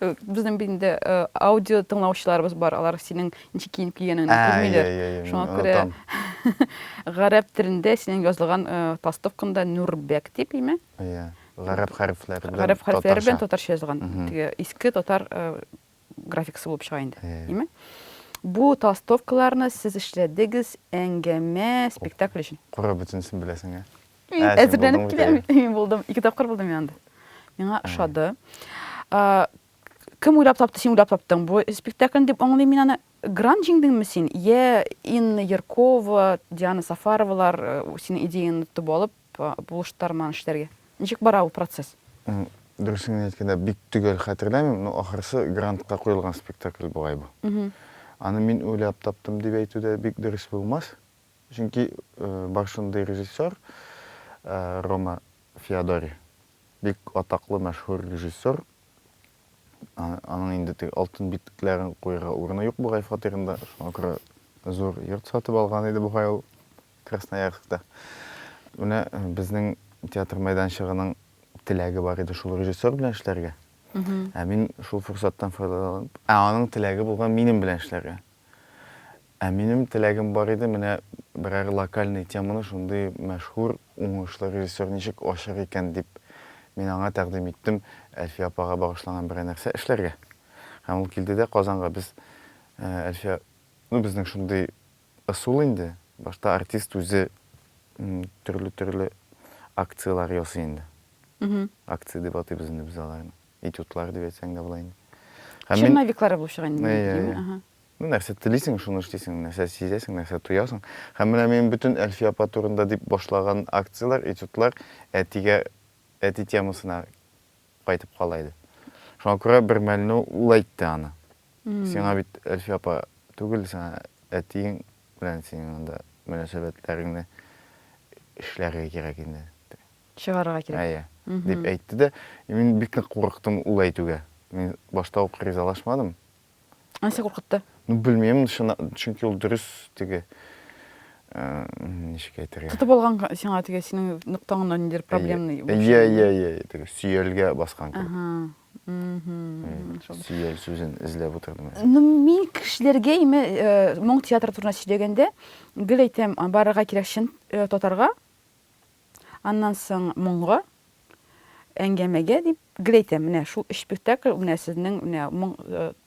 Безнең инде э, аудио тыңлаучыларыбыз бар, алар синең ничек киенеп килгәнеңне күрмиләр. Шуңа күрә гарәп телендә синең язылган э, толстовкаңда Нурбек дип име? Иә. Гарәп хәрефләре белән. Гарәп хәрефләре белән татарча язылган. Теге иске татар э, графикасы булып чыга инде, димме? Бу толстовкаларны сез эшләдегез әңгәмә, спектакль өчен. Кора бөтенесен беләсең, ә? Әзерләнеп киләм. Мин булдым, ике тапкыр булдым мин анда. Миңа ошады. Кем уйлап тапты, син уйлап таптың бу спектакльне дип аңлыйм мин аны. Гран җиңдеңме син? Йә Инна Яркова, Диана Сафаровалар синең идеяңны тотып алып, Булыштырманы эшләргә. Ничек бара ул процесс? Дөресен генә әйткәндә, бик төгәл хәтерләмим, но ахрысы грантка куелган спектакль бугай бу. Аны мин уйлап таптым дип әйтү дә бик дөрес булмас. Чөнки бар шундый режиссер, Рома Феодори. Бик атаклы, мәшһүр режиссер. Аның инде теге алтын битлекләрен куярга урыны юк бугай фатирында. Шуңа күрә зур йорт сатып алган иде бугай ул Красноярскта. Менә э, безнең театр мәйданчыгының теләге бар иде шул режиссер белән эшләргә. Ә мин шул форсаттан файдаланып, ә аның теләге булган минем белән эшләргә. Ә минем теләгем бар иде, менә берәр локальный теманы шундый мәшһүр, уңышлы режиссер ничек ачыр икән дип, мин аңа тәкъдим иттем Әлфия апага багышланган берәр нәрсә эшләргә. Һәм ул килде дә Казанга. Без Әлфия, ну, безнең шундый ысул инде, башта артист үзе төрле-төрле акцияләр ясый инде. Акция дип атыйбыз инде без аларны. этюдлар дип әйтсәң дә була инде. Һәм мин- Черновиклары булып чыга инде. Әйе, әйе. Ага. Ну, нәрсә телисең, шуны эшлисең, нәрсә сизәсең, нәрсә тоясың. Һәм менә мин бөтен Әлфия апа турында дип башлаган акцияләр, этюдлар әтигә, әти темасына кайтып кала иде. Шуңа күрә бер мәлне ул әйтте аны. Мгм. Сиңа бит Әлфия апа түгел, сиңа әтиең белән синең анда мөнәсәбәтләреңне эшләргә кирәк инде. Чыгарырга кирәк. Әйе. Дип әйтте дә. Мин бик нык курыктым ул әйтүгә. Мин башта ук ризалашмадым. Нәрсә куркытты? Ну, белмим, чөнки ул дөрес теге, ничек әйтергә. Тотып алган сиңа теге синең ноктаңны ниндидер проблемный. Әйе, әйе, әйе, теге сөялгә баскан кебек. Сөял сүзен эзләп утырдым. Ну, мин кешеләргә име моң театры турында сөйләгәндә, гел әйтәм, барырга кирәк чын татарга. Аннан соң моңгы әңгәмәгә дип гел әйтәм, менә шул өч спектакль менә сезнең менә моң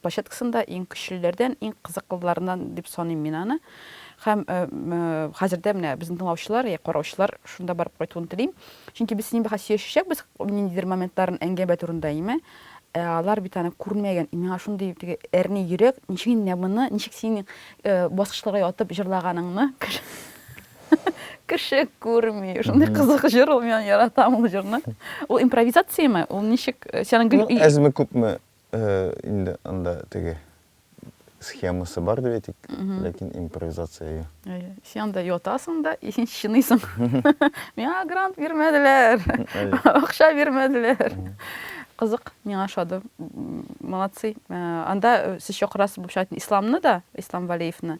площадкасында иң көчлеләрдән, иң кызыклыларыннан дип саныйм мин аны. Һәм хәзер дә менә безнең тыңлаучылар, я караучылар шунда барып кайтуын телим. Чөнки без синең бәхәс сөйләшәчәкбез ниндидер моментларын әңгәмә турында, әйме? Ә алар бит аны күрмәгән. И миңа шундый теге әрни йөрәк, ничек инде менә моны, ничек синең баскычларга ятып җырлаганыңны кеше күрми шундай кызык җыр ул мин яратам ул җырны ул импровизацияме ул ничек э, сенің гүл ну, әзме күпме э, инде анда теге схемасы бар деп әйтик ләкин импровизация әйе сен анда ятасың да и сен чыныйсың миңа грант бирмәделәр акча бирмәделәр кызык миңа ошады молодцы э, анда сез чакырасыз булып чыга исламны да ислам валеевны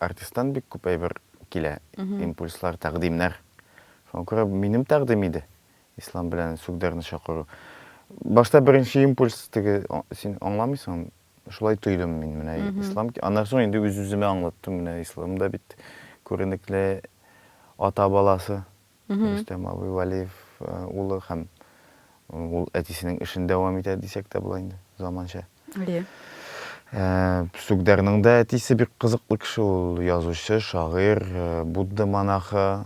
Артисттан бик күп әйбер килә, импульслар, тәкъдимнәр. Шуңа күрә минем тәкъдим иде Ислам белән Сүгдәрне чакыру. Башта беренче импульс теге син аңламыйсың, шулай тойдым мин менә Ислам. Аннан соң инде үз-үземә аңлаттым, менә Ислам да бит күренекле ата баласы. Рөстәм абый Вәлиев улы һәм ул әтисенең эшен дәвам итә дисәк тә була инде, заманча. Әйе. Сүгдәрнең дә әтисе бик кызыклы кеше, ул язучы, шагыйрь, Будда монахы,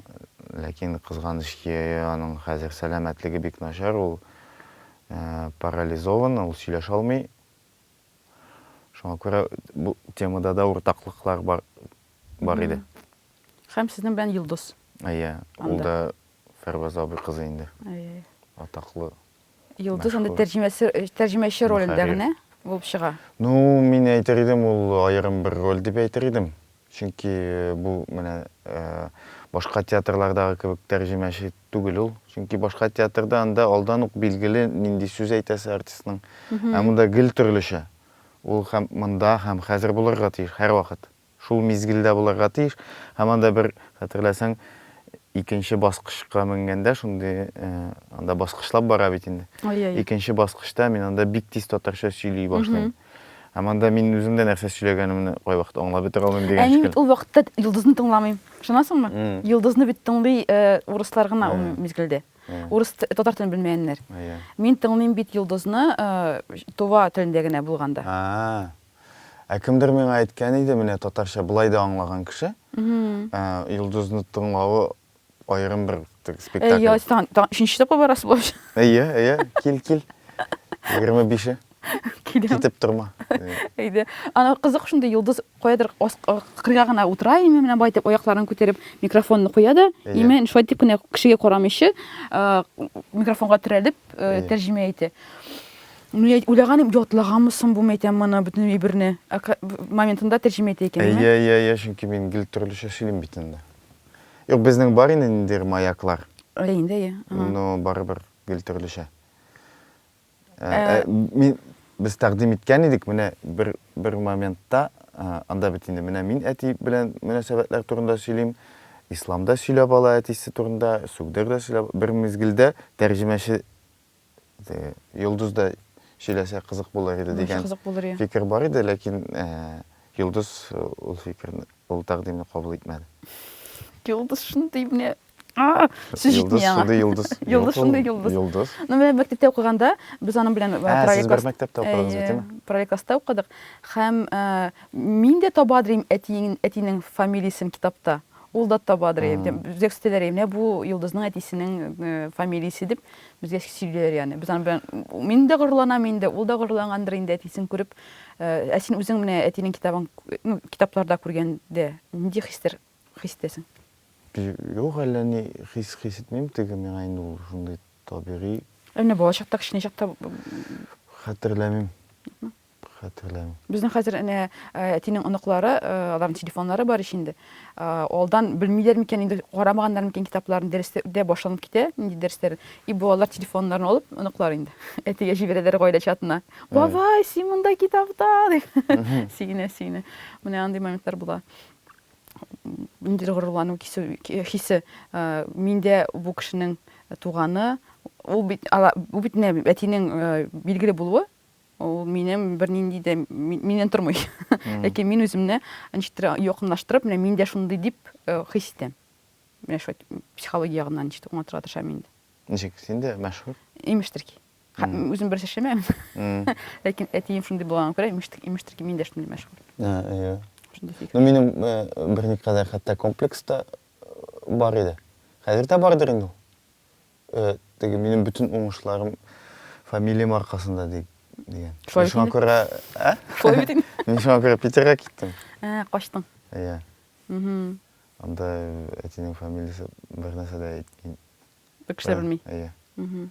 ләкин кызганыч ки, аның хәзер сәламәтлеге бик начар, ул парализован, ул сөйләшә алмый. Шуңа күрә бу темада да уртаклыклар бар, бар иде. Хәм сезнең белән Йолдыз. Әйе, ул да Фәрваз абый кызы инде. Әйе. Атаклы. Йолдыз анда тәрҗемәсе, тәрҗемәче ролендә генә булып чыга. Ну, мин әйтер идем, ул аерым бер роль дип әйтер идем. Чөнки бу менә башка театрлардагы кебек тәрҗемәче түгел ул. Чөнки башка театрда анда алдан ук билгеле нинди сүз әйтәсе артистның. Ә монда гел төрлечә. Ул һәм монда, һәм хәзер булырга тиеш һәрвакыт. Шул мизгелдә булырга тиеш. Һәм анда бер, хәтерләсәң, икенче баскычка менгәндә, шундый, анда баскычлап бара бит инде. Ай-яй. Икенче баскычта мин анда бик тиз татарча сөйли башлыйм. Һәм анда мин үзем дә нәрсә сөйләгәнемне кайвакыт аңлап бетә алмыйм дигән шикелле. Ә мин бит ул вакытта Йолдызны тыңламыйм. Ышанасыңмы? Йолдызны бит тыңлый урыслар гына ул мизгелдә. Урыс, татар телен белмәгәннәр. Мин тыңлыйм бит Йолдызны Тува телендә генә булганда. А-а. Ә кемдер миңа әйткән иде, менә татарча болай да аңлаган кеше, ә, Йолдызны тыңлавы аерым бер теге спектакль. Әйе, тан, тан, өченче тапкыр барасы булачак. Әйе, әйе, кил, кил. 25-е. Киләм. Китеп торма. Әйдә. Ана кызык шундый йолдыз каядыр ас- а, кырга гына утыра, име менә байтып аякларын күтәреп микрофонны куя да, Әйе. име шулай дип кенә кешегә карамыйча, а, микрофонга терәлеп, э, Әйе. тәрҗемә итә. Мин уйлаган идем, ятлаганмы соң бу, мәйтәм, моны бөтен әйберне. Моментында тәрҗемә итә икән. Әйе, әйе, әйе, чөнки мин гел төрлечә сөйлим бит инде. Юк, безнең бар инде ниндидер маяклар. Әйе инде, әйе. Но барыбер гел төрлечә. Мин без тәкъдим иткән идек, менә бер бер моментта анда бит инде менә мин әти белән мөнәсәбәтләр турында сөйлим, исламда сөйләп ала әтисе турында, сүгдер дә сөйләп, бер мизгелдә тәрҗемәче Йолдыз да сөйләсә кызык булыр иде дигән фикер бар иде, ләкин Йолдыз ул фикерне, ул тәкъдимне кабул итмәде. Йолдыз шундый менә сүз җитми аңа. Йолдыз шундый йолдыз. Йолдыз. Ну, менә мәктәптә укыганда без аның белән параллель класста укыдык. Һәм мин дә табадыр идем әтинең фамилиясен китапта. Ул да табадыр, бизәк үстәләр, менә бу йолдызның әтисенең фамилиясе дип, безгә сөйлиләр яны. Без аны мин дә горурланам инде, ул да горурлангандыр инде әтисен күреп. Ә син үзең менә әтинең китабын, ну, китапларда күргәндә, нинди хистер, хис итәсең? Юк, әллә ни хис хис итмим, теге миңа инде ул шундый табигый. Ә менә балачакта, кечкенә чакта? Хәтерләмим. Хәтерләмим. Безнең хәзер әнә әтинең оныклары, аларның телефоннары бар ич инде. Алдан белмиләр микән инде, карамаганнар микән китапларын, дәресләр дә башланып китә, нинди дәресләр. И балалар телефоннарын алып, оныклар инде әтигә җибәрәләр гаилә чатына. Бабай, син монда китапта, дип. Сөенә, сөенә. Менә андый моментлар була. Ниндидер горурлану хисе. Мин дә бу кешенең туганы. Ул бит, ул бит әтинең билгеле булуы. ул минем бернинди дә миннән тормый. Ләкин мин үземне ничектер якынлаштырып, менә мин дә шундый дип э, хис итәм. Менә шулай психология ягыннан ничек аңлатырга тырышам инде. Ничек, син дә мәшһүр? Имештер ки. Үзем берсе эшләмәгән. Ләкин әтием шундый булганга күрә, имештер, имештер ки, мин дә шундый мәшһүр. Иә. Ну, минем э, берникадәр хәтта комплекс та э, бар иде. Хәзер дә бардыр инде ул. Теге минем бөтен уңышларым фамилиям аркасында ди, дигән. Шулай Шуңа бит инде. күрә, ә? Шулай бит инде. Мин шуңа күрә Питерга киттем. Ә, качтың. Иә. Мгм. Анда әтинең фамилиясе бер нәрсә дә әйтми. Бер кеше дә белми. Иә. Мгм.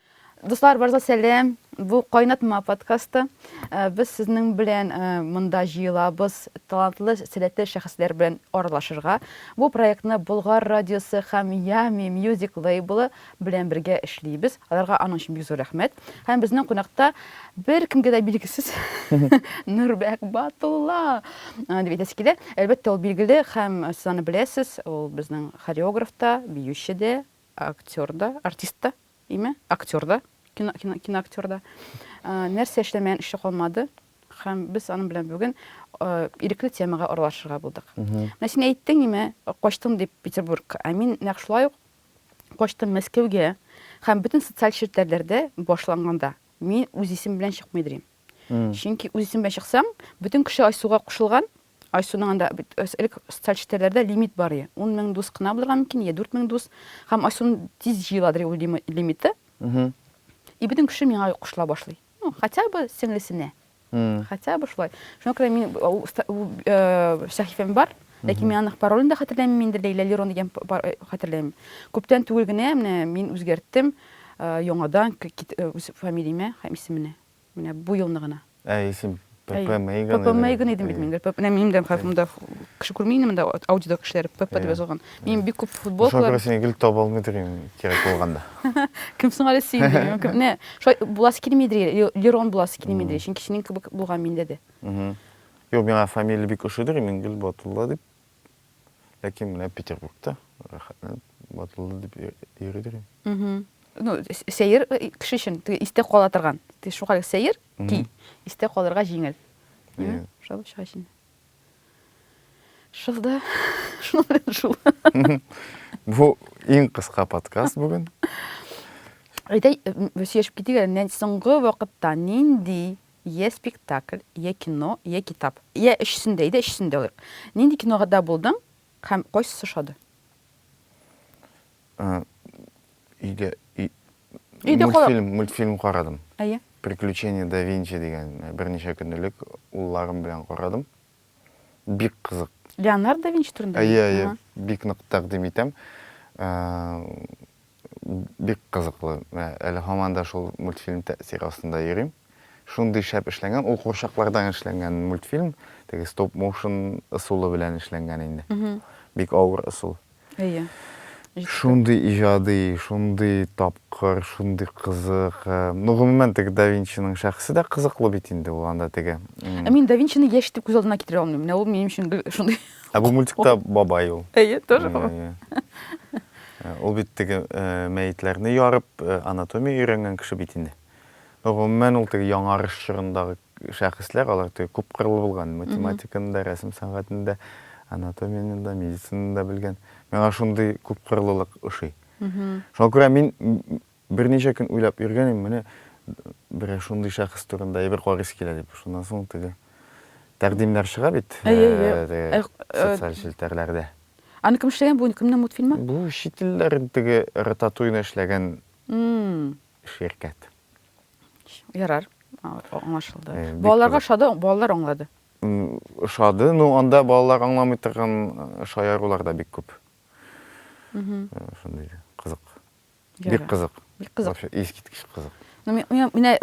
Дуслар, барыгызга сәлам! Бу Кайнатма подкасты. Э, без сезнең белән э, монда җыелабыз талантлы, сәләтле шәхесләр белән аралашырга. Бу проектны Болгар радиосы һәм Ями Music лейблы белән бергә эшлибез. Аларга аның өчен бик зур рәхмәт. Һәм безнең кунакта бер кемгә дә билгесез Нурбәк Батулла э, дип әйтәсе килә. Әлбәттә, ул билгеле һәм сез аны беләсез. Ул безнең хореограф та, биюче дә, актер да, артист та. Име, актер да, кино, кино, киноактер да. Ә, нәрсә эшләмәгән эше калмады. Һәм без аның белән бүген ә, ирекле темага аралашырга булдык. Менә син әйттең име, качтым дип Петербургка. Ә мин нәкъ шулай ук качтым Мәскәүгә һәм бөтен социаль челтәрләрдә башланганда мин үз исем белән чыкмый дирим. Чөнки үз исем белән чыксаң, бөтен кеше Айсуга кушылган, Айсуның анда бит элек социаль челтәрләрдә лимит бар и, ун мең дус кына булырга мөмкин, йә дүрт мең дус. Һәм Айсун тиз җыеладыр ул лимиты. И бөтен кеше миңа кушыла башлый. Ну, хотя бы сеңлесенә. Хотя бы шулай. Шуңа күрә мин ул сәхифәм бар, ләкин мин аның паролен дә хәтерләмим инде, Ләйлә Лерон дигән хәтерләмим. Күптән түгел генә менә мин үзгәрттем яңадан үз фамилиямә һәм исеменә. Менә бу елны гына. Әй, син ПП Мейган идең. ПП Мейган идем бит мин. Менә минем дә хатымда кеше күрми инде монда аудио кешеләре ПП дип язылган. Мин бик күп футболкалар. Шуңа күрә сине гел таба алмыйдыр инде кирәк булганда. Кем соң әле син? Менә шулай буласы килмидер, Лерон буласы килмидер, чөнки синең кебек булган миндә дә. Юк, миңа фамилия бик ошыйдыр, Имангөл Батулла дип. Ләкин менә Петербургта рәхәтләнеп ватылды дип йөридер. Ну, сәер кеше өчен истә кала торган. Ти шуңа сәер ки, истә калырга җиңел. Димме? Шул чак өчен. Шул да. Шул белән шул. Бу иң кыска подкаст бүген. Әйтә, сөйләшеп китик әле, соңгы вакытта нинди Йә спектакль, йә кино, йә китап. Йә өчесен дә, әйдә өчесен дә алыйк. Нинди киногада булдың һәм кайсысы ошады? Өйдә Өйдә калып. Мультфильм, мультфильм карадым. Әйе. Приключения да Винчи дигән берничә көнлек улларым белән карадым. бик кызык. Леонардо да Винчи турында? Әйе, әйе, бик нык тәкъдим итәм. Бик кызыклы. Әле һаман да шул мультфильм тәэсире астында йөрим. Шундый шәп эшләнгән, ул курчаклардан эшләнгән мультфильм, теге стоп-моушен ысулы белән эшләнгән инде. Бик авыр ысул. Әйе. Шундый иҗади, шундый тапкыр, шундый кызык. Ну, гомумән, теге да Винчиның шәхесе дә кызыклы бит инде ул анда теге. Ә мин да Винчины яшь итеп күз алдына китерә алмыйм. Менә ул минем өчен гел шундый. Ә бу мультикта бабай ул. Әйе, тоже бабай. Ул бит теге мәетләрне ярып, анатомия өйрәнгән кеше бит инде. Гомумән, ул теге яңарыш чорындагы шәхесләр, алар теге күпкырлы булган, математиканы да, рәсем сәнгатен дә, анатомияне дә, медицинаны да белгән. Миңа шундый күпкырлылык ошый. Шуңа күрә мин берничә көн уйлап йөргән идем, менә берәр шундый шәхес турында әйбер карыйсы килә дип. Шуннан соң теге тәкъдимнәр чыга бит социаль челтәрләрдә. Аны кем эшләгән? Бу кемнең мультфильмы? Бу чит илләрдә теге Рататуйны эшләгән ширкәт. Ярар, аңлашылды. Балаларга ошады, балалар аңлады. Ошады, ну анда балалар аңламый торган шаярулар да бик күп. Шундый кызык. Бик кызык. Бик кызык. Вообще искиткеч кызык. Ну мен менә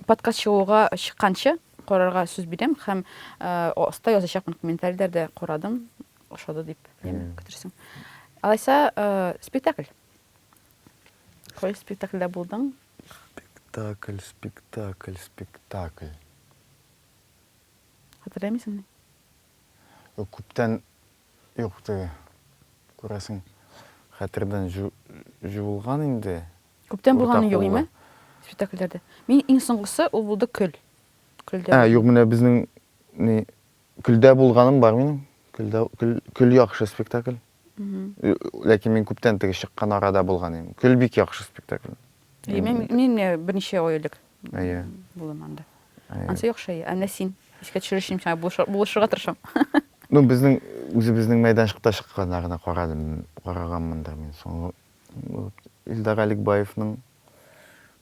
подкаст чыгуга чыкканчы карарга сүз бирәм һәм аста язачакмын комментарийләрдә карадым, ошады дип, күтерсең. Алайса, спектакль. Кайсы спектакльдә булдың? Спектакль, спектакль, спектакль. Хәтерләмисеңме? Юк, күптән юк теге. Күрәсең, хәтердән җуылган инде. Күптән булганы юк име? Спектакльләрдә. Мин иң соңгысы ул булды Көл. Көлдә. Ә, юк, менә безнең не Көлдә булганым бар минем. Көлдә көл, көл яхшы спектакль. Ләкин мин күптән теге чыккан арада булган идем. Көл бик яхшы спектакль. Мин мин берничә ай элек булдым анда. Ансы яхшы. Әнә син искә төшерүчем сиңа булышырга тырышам. Ну, безнең үзебезнең мәйданчыкта чыкканнарны карадым, караганмындыр мин. Соң Илдар Аликбаевның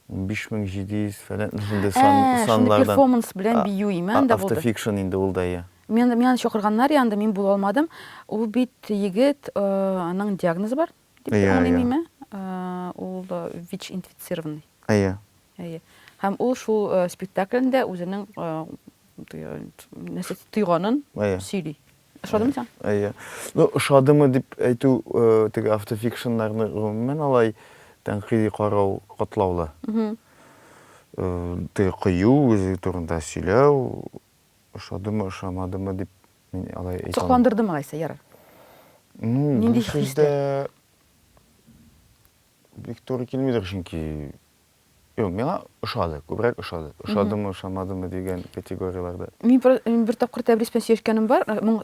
15700 фәлән шундый сан саннардан. Перформанс белән бию имән дә булды. Автофикшн инде ул да я. Мен мен чакырганнар я анда мин була алмадым. Ул бит егет аның диагнозы бар дип аңлыйм име? Ул вич инфицированный. Әйе. Әйе. Һәм ул шул спектаклендә үзенең нәрсә тойганын сөйли. Ошадымы сиңа? Әйе. Ну, ошадымы дип әйтү, теге автофикшннарны гомумән алай тәнкыйди карау катлаулы. Теге кыю, үзе турында сөйләү, ошадымы, ошамадымы дип мин алай әйтә. Сокландырдымы Гайсә, ярар. Ну, нинди хисләр? Бик туры килмидер, чөнки Юк, миңа ошады, күбрәк ошады. Ошадымы, ошамадымы дигән категорияләрдә. Мин бер тапкыр Тәбрис белән сөйләшкәнем бар, моң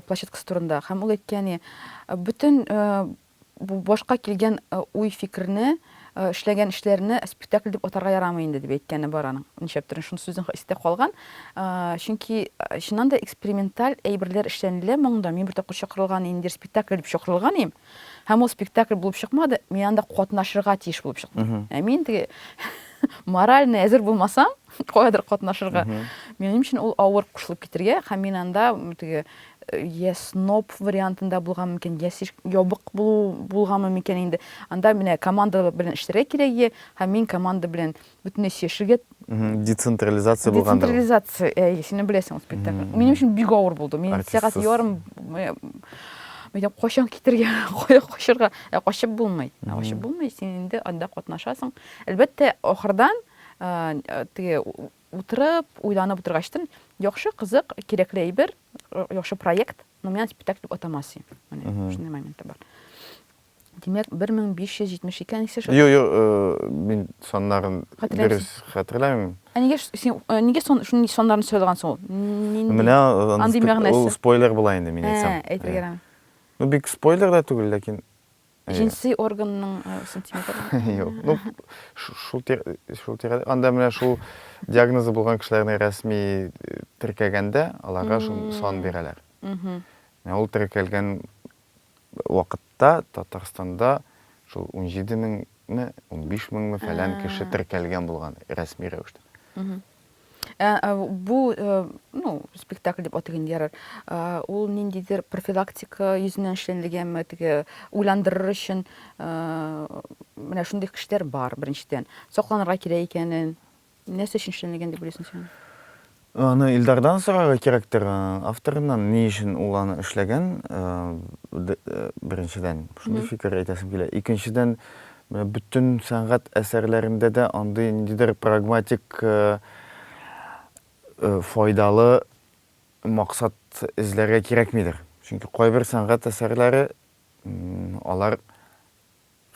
площадкасы турында. Һәм ул әйтте, яни, бөтен башка килгән уй-фикерне, эшләгән эшләрне спектакль дип атарга ярамый инде, дип әйткәне бар аның. Нишләптер, шуны сүзен истә калган. Чөнки чыннан да эксперименталь әйберләр эшләнелә моңда. Мин бер тапкыр чакырылган инде спектакль дип чакырылган идем. Һәм ул спектакль булып чыкмады, мин анда катнашырга тиеш булып чыктым. Ә мин теге морально әзер булмасам, каядыр катнашырга, минем өчен ул авыр кушылып китергә, һәм мин анда теге я сноб вариантында булган микән, я ябык булу булганмы микән инде. Анда менә команда белән эшләргә кирәк, һәм мин команда белән бөтенләй чишелгән. Децентрализация булган. Децентрализация, әй, син беләсең спектакль. Минем өчен бик авыр булды. Мин сәгать ярым Мәйдән кайчан китергә, кая качырга? Ә качып булмый. Ә качып булмый, син инде анда катнашасың. Әлбәттә, ахырдан теге утырып, уйланып утыргачтын, яхшы, кызык, кирәкле әйбер, яхшы проект, но мин спектакль атамасы. Менә шундый момент бар. Димәк, 1572 әнисе шул? Юк, юк, мин саннарын дөрес хәтерләмим. Ә нигә син нигә сон шундый саннарны сайлаган соң ул? Нинди? Менә андый мәгънәсе. Ул спойлер була инде мин әйтсәм. Ә, әйтергә ярам. Ну, бик спойлер да түгел, ләкин Җенси органның сантиметры. Юк. Ну, шул шул тирәдә. Анда менә шул диагнозы булган кешеләрне рәсми теркәгәндә, аларга шул сан бирәләр. Мм. Менә ул теркәлгән вакытта Татарстанда шул унҗиде меңме, унбиш меңме фәлән кеше теркәлгән булган рәсми рәвештә. Ә, ә бу, э, ну, спектакль дип атыйк инде ярар. Ә, ул ниндидер профилактика йөзеннән эшләнелгәнме, теге уйландырыр өчен, ә, менә шундый кешеләр бар, беренчедән. Сакланырга кирәк икәнен. Нәрсә өчен эшләнелгән дип уйлыйсың син аны? Аны Илдардан сорарга кирәктер, авторыннан, ни өчен ул аны эшләгән, беренчедән, шундый фикер әйтәсем килә. Икенчедән, бөтен сәнгать әсәрләрендә дә андый ниндидер прагматик, файдалы максат эзләргә кирәкмидер. Чөнки кайбер сәнгать әсәрләре, алар.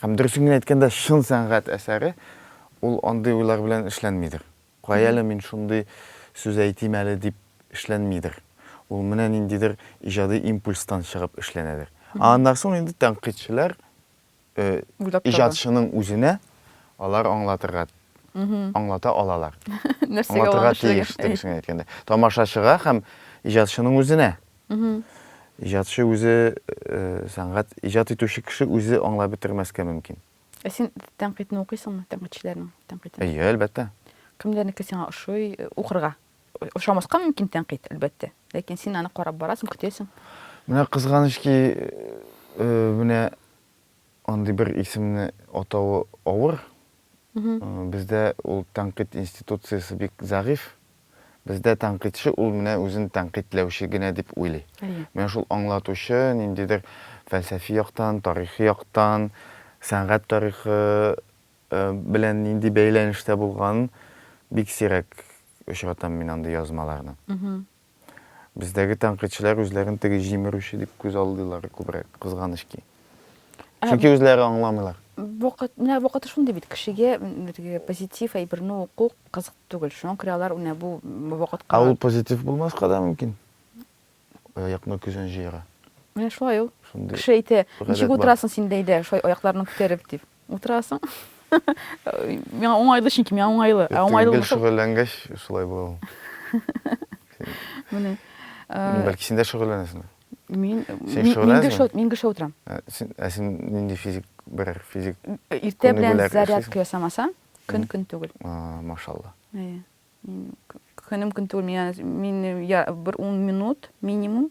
Һәм дөресен генә әйткәндә, чын сәнгать әсәре ул андый уйлар белән эшләнмидер. Кай әле мин шундый сүз әйтим әле дип эшләнмидер. Ул менә ниндидер иҗади импульстан чыгып эшләнәдер. Ә аннан соң инде тәнкыйтьчеләр иҗатчының үзенә алар аңлатырга, аңлата алалар. Аңлатырга тиеш, дөресен генә әйткәндә. Тамашачыга һәм иҗатчының үзенә. Иҗатчы үзе, сәнгать, иҗат итүче кеше үзе аңлап бетермәскә мөмкин. Ә син тәнкыйтьне укыйсыңмы, тәнкыйтьчеләрнең тәнкыйтен? Әйе, әлбәттә. Кемнәрнеке сиңа ошый, укырга? Ошамаска мөмкин тәнкыйть, әлбәттә. Ләкин син аны карап барасың, көтәсең. Менә кызганыч ки, менә Андый бер исемне атавы авыр. Бездә ул тәнкыйть институциясе бик зәгыйфь. Бездә тәнкыйтьче ул менә үзен тәнкыйтьләүче генә дип уйлый. Менә шул аңлатучы ниндидер фәлсәфи яктан, тарихи яктан, сәнгать тарихы белән нинди бәйләнештә булганын бик сирәк очратам мин андый язмаларның. Бездәге тәнкыйтьчеләр үзләрен теге җимерүче дип күз алдыйлар күбрәк, кызганыч ки. Ә, Чөнки үзләре аңламыйлар. Вакыт, менә вакыты шундый бит, кешегә теге позитив әйберне уку кызык түгел. Шуңа күрә алар менә бу вакытка. Ә ул позитив булмаска да мөмкин. Аякны көзән җыера. Менә шулай ул. Шундый. Кеше әйтә, ничек утырасың син бәйдә, шулай аякларны күтәреп, дип. Утырасың. Миңа уңайлы, чөнки миңа уңайлы. Ә уңайлы булмаса... Шөгыльләнгәч, шулай була ул. Менә. Бәлки син дә шөгыльләнәсең. Мин мин гыша утырам. Ә син нинди физик берәр физик... Иртә белән зарядка ясамасаң, көн-көн түгел. Машалла. Әйе. Көнем көн түгел, мин бер ун минут минимум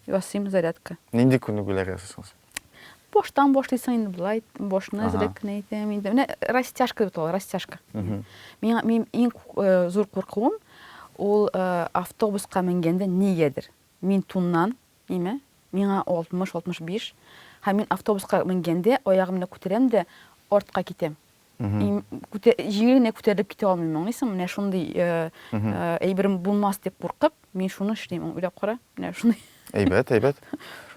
ясыйм зарядка. Нинди күнегүләр ясыйсың? Баштан башлыйсың инде болай, башны әзрәк кенә әйтәм инде. Менә растяжка дип атала, растяжка. Миңа мин иң зур куркуым ул автобуска менгәндә нигәдер. Мин туннан, имә, миңа 60-65, һәм мин автобуска менгәндә аягымны күтәрәм дә артка китәм. җиңел генә күтәрелеп китә алмыйм, аңлыйсың? Менә шундый әйберем булмас дип куркып, мин шуны эшлим, уйлап кара. Менә шундый. Әйбәт, әйбәт.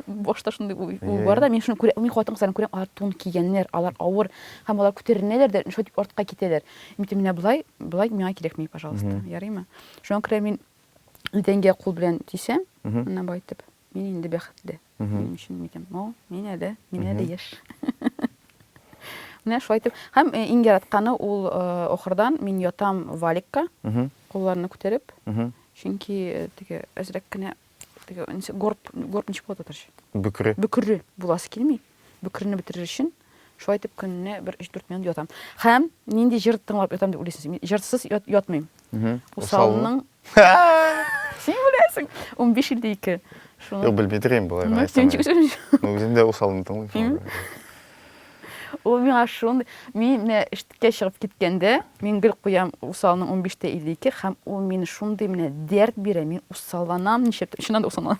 Башта шундый уй бар да, мин шуны күрәм, мин хатын-кызларны күрәм, алар тун кигәннәр, алар авыр, һәм алар күтәренәләр дә, шулай дип артка китәләр. Мин әйтәм, менә болай, болай миңа кирәкми, пожалуйста, ярыймы? Шуңа күрә мин идәнгә кул белән тисәм, менә болай итеп. Мин инде бәхетле. Минем өчен микән? О, мин әле, мин әле яшь. Менә шулай итеп. Һәм э, иң яратканы ул э, охырдан мин ятам валикка, кулларны күтәреп. Чөнки э, теге әзрәк кенә теге горб горб ничек була татарча? Бөкре. Бөкре буласы килми. Бөкрене бетерер өчен Шулай итеп көнне бер 3-4 минут ятам. Хәм нинди җыр тыңлап ятам дип уйлыйсыз? Мин җырсыз ят, ятмыйм. Усалның Син беләсең. 15 илдә 2. Шуны. Юк, белми торыйм болай. Ну, син чик син. Ну, үзем дә усалны тыңлыйм. Ул миңа шундый, мин менә эшкә чыгып киткәндә, мин гел куям усалның 15 тә 52 һәм ул мине шундый менә дәрт бирә, мин усалланам, нишләп, чыннан да усалланам.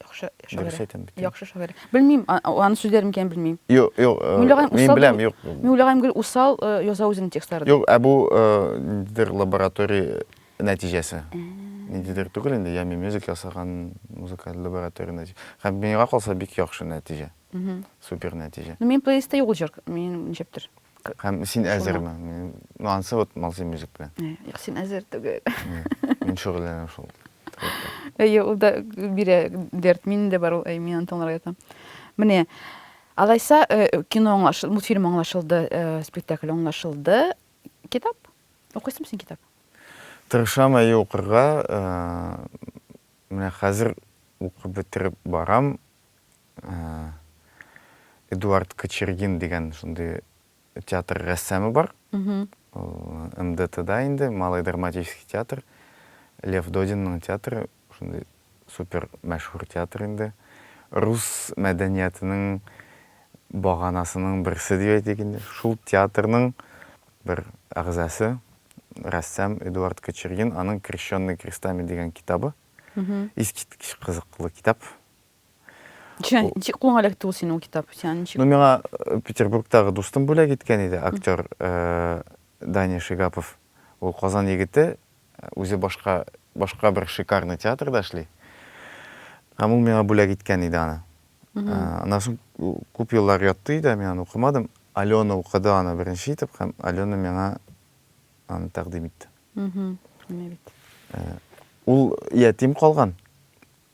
Яхшы шагыйрь. Дөрес әйтәм бит. Яхшы шагыйрь. Белмим, аның сүзләре микән белмим. Юк, юк. Мин беләм, юк. Мин уйлаган гел усал яза үзенең текстларын. Юк, ә бу ниндидер лаборатория нәтиҗәсе. Ниндидер түгел инде, ями мюзик ясаган музыкаль лаборатория нәтиҗә. Һәм миңа калса бик яхшы нәтиҗә. Супер нәтиҗә. Ну, мин плейлистта юк җыр, мин ничектер. Һәм син әзерме? Ну, ансы вот малзы мюзик белән. Юк, син әзер түгел. Мин шөгыльләнәм шул. Әйе, ул да бирә дәрт. Мин дә бар ул, әй, мин аны тыңларга ятам. Менә, алайса, э, кино аңлашылды, мультфильм аңлашылды, э, спектакль аңлашылды. Китап? Укыйсың син китап? Тырышам әйе укырга. Э, Менә хәзер укып бетереп барам. Э, Эдуард Кочергин дигән шундый театр рәссамы бар. МДТда инде, Малый драматический театр. Лев Додинның театры, шундый супер мәшһүр театр инде. Рус мәдәниятының баганасының берсе дип әйтик инде. Шул театрның бер әгъзасы, рәссам Эдуард Кочергин, аның Крещенный крестами дигән китабы. Искиткеч кызыклы китап. Чән, ничек кулыңа эләкте ул синең ул китап? Сиңа ничек? Ну, миңа э, Петербургтагы дустым бүләк иткән иде, актер э, Даня Шигапов. Ул Казан егете, э, үзе башка башка бер шикарный театрда эшли. Һәм ул миңа бүләк иткән иде аны. Э, Аннан соң ку- күп еллар ятты иде, мин аны укымадым. Алена укыды аны беренче итеп һәм Алена миңа аны тәкъдим итте. Мгм. Менә бит. Ул ятим калган.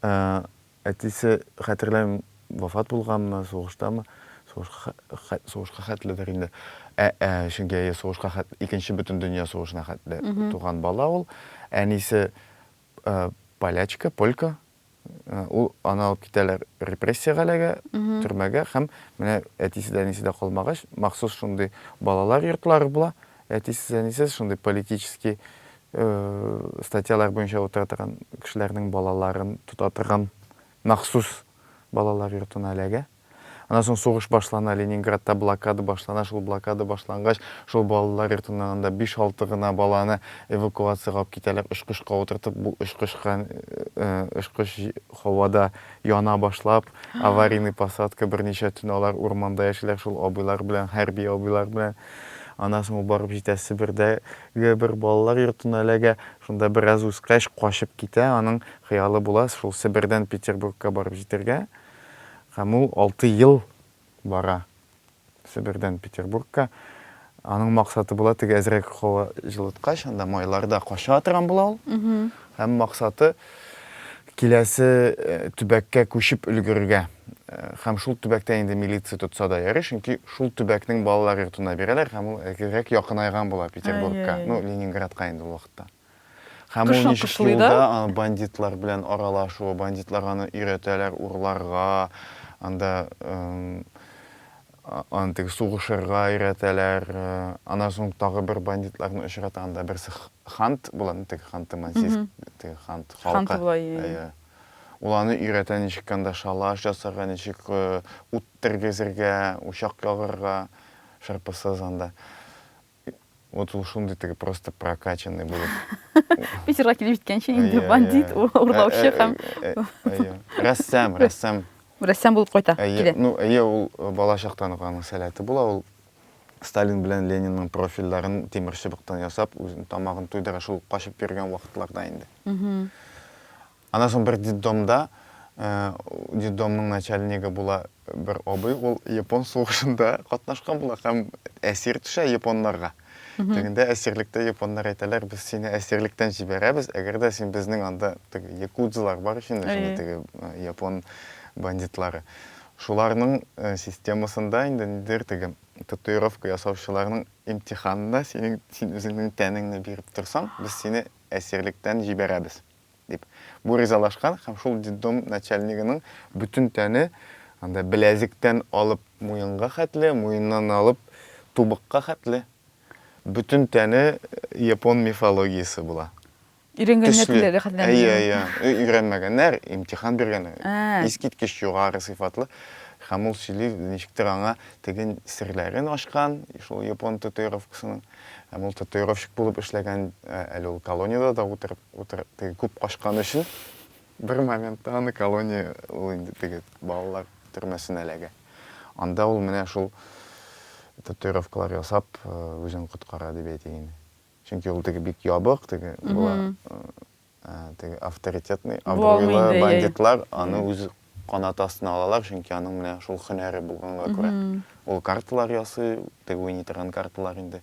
Ә әтисе, хәтерләмим, вафат булганмы, сугыштамы, сугышка хәт, сугышка хәтледер инде. Ә, ә, чөнки, әйе, сугышка хәт, Икенче Бөтендөнья сугышына хәтле туган бала ул. Әнисе, ә, полячка, полька. Ә, ул, аны алып китәләр репрессия галәгә, төрмәгә һәм менә әтисе дә, әнисе дә калмагач, махсус шундый балалар йортлары була, әтисез, әнисез, шундый политический статьялар буенча утыра торган кешеләрнең балаларын тота торган махсус балалар йортына эләгә. Аннан соң сугыш башлана, Ленинградта блокада башлана, шул блокада башлангач, шул балалар йортыннан анда биш-алты гына баланы эвакуациягә алып китәләр, очкычка утыртып, бу очкычка, очкыч һавада яна башлап, аварийный посадка, берничә төн алар урманда яшиләр шул абыйлар белән, хәрби абыйлар белән. Аннан соң ул барып җитә Себердә, Гә бер балалар йортына эләгә, шунда бераз үскәч, качып китә, аның хыялы була шул Себердән Петербургка барып җитәргә, һәм ул алты ел бара Себердән Петербургка, аның максаты була теге әзрәк һава җылыткач, анда майларда кача торган була ул, һәм максаты, Киләсе төбәккә күчеп өлгерергә һәм шул төбәктә инде милиция тотса да ярый, чөнки шул төбәкнең балалар йортына бирәләр һәм ул әзерәк якынайган була Петербургка, ну, Ленинградка инде ул вакытта. Һәм ул ничек юлда бандитлар белән аралашу, бандитлар аны өйрәтәләр урларга, анда Аны теге сугышырга өйрәтәләр. Аннан соң тагы бер бандитларны очрата, анда берсе Хант була, теге Ханты Мансийск, теге Хант халкы. Ул аны өйрәтә, ничек анда шалаш ясарга, ничек ут тергезергә, учак ягырга, шырпысыз анда. вот ул шундый теге просто прокачанный булып питерга килеп җиткәнче инде бандит урлаучы һәм рәссам рәссам рәссам булып кайта килә ну әйе ул бала чактан ук аның сәләте була ул сталин белән ленинның профильләрен тимер чыбыктан ясап үзен тамагын туйдыра шул качып йөргән вакытларда инде Аннан соң бер детдомда, детдомның начальнигы була бер абый, ул япон сугышында катнашкан була һәм әсир төшә японнарга. Тегендә әсирлектә японнар әйтәләр, без сине әсирлектән җибәрәбез, әгәр дә син безнең анда теге якудзалар бар ич инде шундый теге япон бандитлары. Шуларның системасында инде ниндидер теге татуировка ясаучыларның имтиханына синең, син үзеңнең тәнеңне биреп торсаң, без сине әсирлектән җибәрәбез. дип. Бу ризалашкан һәм шул детдом начальнигының бөтен тәне анда беләзектән алып муенга хәтле, муеннан алып тубыкка хәтле бөтен тәне япон мифологиясе була. Өйрәнгәннәр Төсле. теләге хәтле. Әйе, әйе. Ө- Өйрәнмәгәннәр, имтихан биргәннәр. Ә. Искиткеч югары сыйфатлы. Һәм ул сөйли, ничектер аңа теге серләрен ачкан, шул япон татуировкасының. Һәм ул татуировщик булып эшләгән, ә, әле ул колониядә дә утырып. Утыр, теге күп качкан өчен бер моментта аны колония, ул инде теге балалар төрмәсенә эләгә. Анда ул менә шул татуировкалар ясап, үзен коткара дип әйтик инде. Чөнки ул теге бик ябык, теге була, теге авторитетный, абруйлы бандитлар аны үз канаты астына алалар, чөнки аның менә шул һөнәре булганга күрә. Ул карталар ясый, теге уйный торган карталар инде.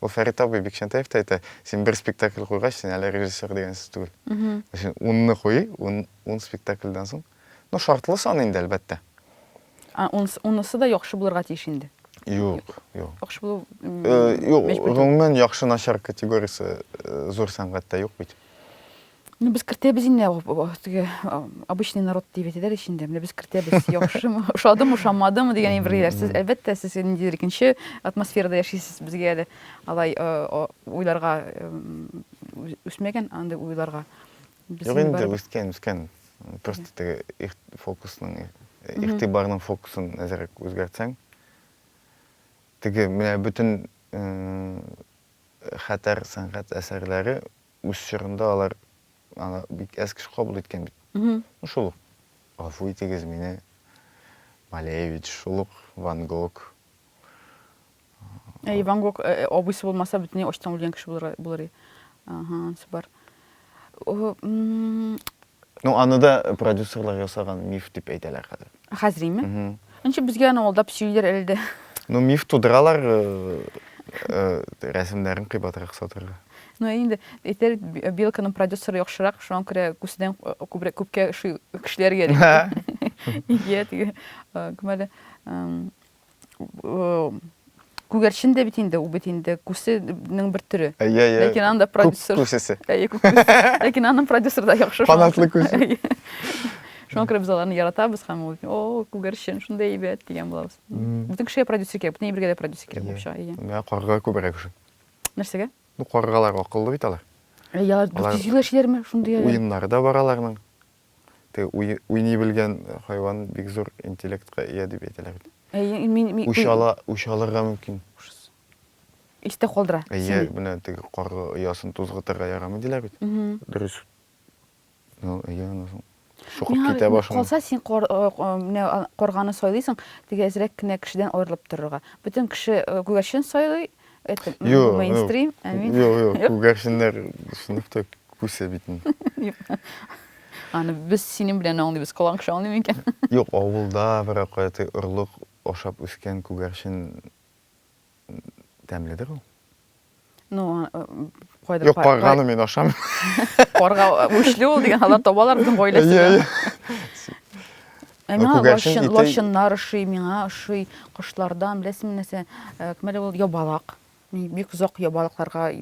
Ул Фәрит абый Бикчәнтәев тә әйтә, син бер спектакль куйгач, син әле режиссер дигән сүз түгел. Син унны куй, ун, ун спектакльдән соң. Ну, шартлы сан инде, әлбәттә. Ә ун, унысы да яхшы булырга тиеш инде. Юк, юк. Яхшы булу мәҗбүр. Юк, гомумән яхшы-начар категориясе зур сәнгатьтә юк бит. Ну, без кертәбез инде, теге обычный народ дип әйтәләр ич инде. Менә без кертәбез, яхшымы, ошадымы, ошамадымы дигән бер ияләр. Сез әлбәттә, сез ниндидер икенче атмосферада яшисез, безгә әле алай уйларга үсмәгән андый уйларга. Юк инде, үскән, үскән. Просто теге фокусның, игътибарның фокусын әзрәк үзгәртсәң, теге менә бөтен хәтәр сәнгать әсәрләре Үз чорында алар аны бик әз кеше кабул иткән бит. Ну, шул ук, гафу итегез мине, Малевич, шул ук Ван Гог. Әй, Ван Гог абыйсы булмаса, бөтенләй ачтан үлгән кеше булыр, булыр и. Ага, супер. Ну аны да продюсерлар ясаган миф дип әйтәләр хәзер. Хәзриме? Ничек безгә аны алдап сөйлиләр әле дә? Ну миф тудыралар рәсемнәрен кыйбатрак сатырга. Ну инде әйтер Белканың продюсеры яхшырак, шуңа күрә күседән күбрәк күпкә шуй кешеләргә. Ия, теге кем әле? э, күгәрчен дә бит инде, ул бит инде күсенең бер төре. Әйе, әйе. Ләкин анда продюсер. Күк күсесе. Әйе, күк күсесе. Ләкин аның продюсер да яхшы. Фанатлы күсе. Шуңа күрә без аларны яратабыз һәм ул, о, күгәрчен, шундай әйбәт дигән булабыз. Бүтән кешегә продюсер кирәк, бүтән әйбергә дә продюсер кирәк булып чыга. Әйе. Менә карга күбрәк шул. Нәрсәгә? Ну, каргалар акыллы бит алар. Әйе, алар 400 ел яшиләрме? Шундый әле. Уеннары да бар аларның. Теге уй, уйный белгән хайван бик зур интеллектка ия дип әйтәләр бит. Әйе, мин мин Үч ала, үч алырга мөмкин. Истә калдыра. Әйе, менә теге карга оясын тузгытырга ярамый диләр бит. Дөрес. Ну, әйе, аны соң. Шукып китә башлый. Калса син кар, менә карганы сайлыйсың, теге әзрәк кенә кешедән аерылып торырга. Бөтен кеше күгәрчен сайлый, Это мейнстрим, ә мин... Юк, юк, күгәрченнәр сыныфта күсә бит инде. Аны без синең белән аңлыйбыз, колаң кеше аңлый микән? Юк, авылда берәр кайда орлык ашап үскән күгәрчен тәмледер ул. Ну, кайда Юк, парганы мин ашам. Парга үчле ул дигән, алар табалар безнең гаиләсендә. Аңа лощын, лощыннар ошый, миңа ошый, кошлардан, беләсең нәрсә, кемәле ул ябалак. Мин бик озак ябалакларга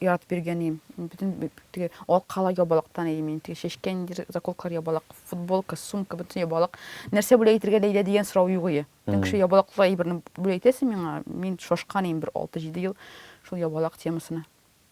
яратып йөргән идем. Бөтен теге алкала ябалактан идем мин. Теге чәчкә инде заколкалар ябалак, футболка, сумка, бөтен ябалак. Нәрсә бүләк итергә Ләйлә дигән сорау юк иде. Тем кеше ябалаклы әйберне бүләк итәсең миңа, мин шашкан идем бер 6-7 ел шул ябалак темасына.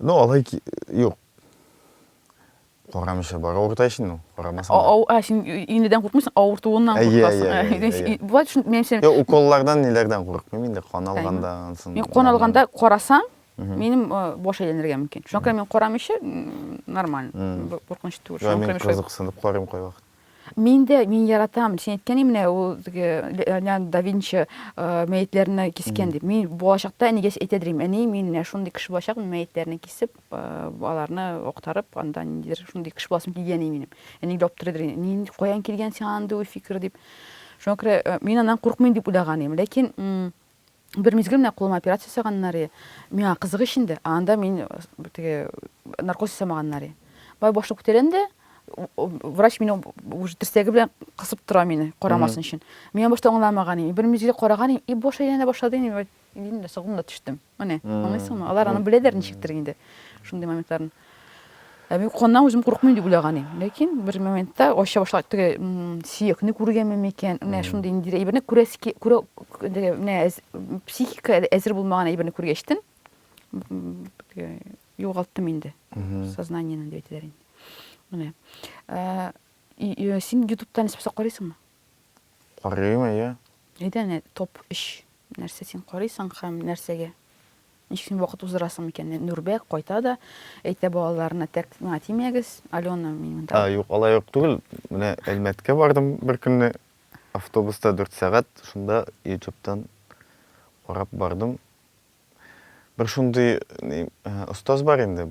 Ну алай ки, юк. Карамыйча бара авырта ич инде ул, карамасаң да. Ау, а, син инедән куркмыйсың, авыртуыннан Әйе, әйе, куркасың. әйе, Әйе, әйе. әйе. Бывает, шун, минемчә, Юк, уколлардан, ниләрдән курыкмыйм инде, кан алганда, ансын. мин кан алганда карасаң, Мгм. минем э, баш әйләнергә мөмкин. Шуңа күрә мин карамыйча, м, нормально. Мгм. Б- Куркыныч түгел. Юк, Шуңа күрә мин мин шулай- кызыксынып карыйм кайвакыт. Мин дә, мин яратам. Син әйткән менә ул теге Леонардо да Винчи мәетләрне кискән дип. Мин булачакта әнигә әйтә дим, әни, мин менә шундый кеше булачак, мин мәетләрне кисеп, аларны актарып, анда ниндидер шундый кеше буласым килгән ди минем. Әни дә аптырый дим, мин каян килгән сиңа андый уй фикер дип. Шуңа күрә мин аннан куркмыйм дип уйлаган идем. Ләкин Бер мизгел менә кулыма операция ясаганнар и, миңа кызык ич инде, ә анда мин теге наркоз ясамаганнар и. Бай башны күтәрәм дә, врач мине уже терсәге белән кысып тора мине, карамасын өчен. Мин аны башта аңламаган идем. Бер мизгел караган идем, и баш әйләнә башлады инде, дим дә сагым да төштем. Менә, аңлыйсыңмы? Алар аны беләләр ничектер инде, шундый моментларын. Ә мин куркканнан үзем курыкмыйм дип уйлаган идем. Ләкин бер моментта ача башлап теге сөякне күргәнме микән? Менә шундый ниндидер әйберне күрәс күрә менә психика әзер булмаган әйберне күргәчтен югалттым инде. Сознаниене дип әйтәләр инде. Менә. Син ютубтан саккарыйсыңмы? Карыйм, әйе. Әйдә әнә, топ өч нәрсә син карыйсың һәм нәрсәгә? Ничек син вакыт уздырасың микән? Нурбәк кайта да әйтә балаларына, тәк миңа тимәгез, Алена минемда. А, юк, алай ук түгел. Менә Әлмәткә бардым бер көнне, автобуста дүрт сәгать, шунда ютубтан карап бардым. Бер шундый ни, остаз бар инде,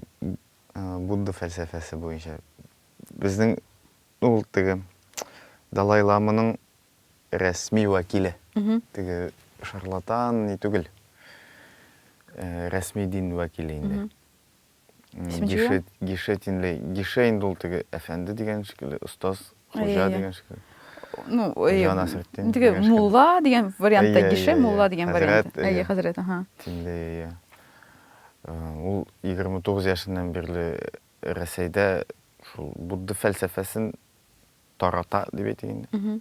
Будда фәлсәфәсе буенча. Безнең Ул теге Далай ламаның рәсми вәкиле. Теге шарлатан ни түгел. Рәсми дин вәкиле инде. Гише, гише тинле. Гише инде ул теге әфәнде дигән шикелле, остаз, хуҗа дигән шикелле. Ну, әйе. Җан Насретдин. Теге мулла дигән вариантта гише, мулла дигән вариант. Әйе, хәзрәт, аһа. Тинле, әйе. Ул 29 яшеннән бирле Рәсәйдә шул будда фәлсәфәсен тарата дип әйтик инде.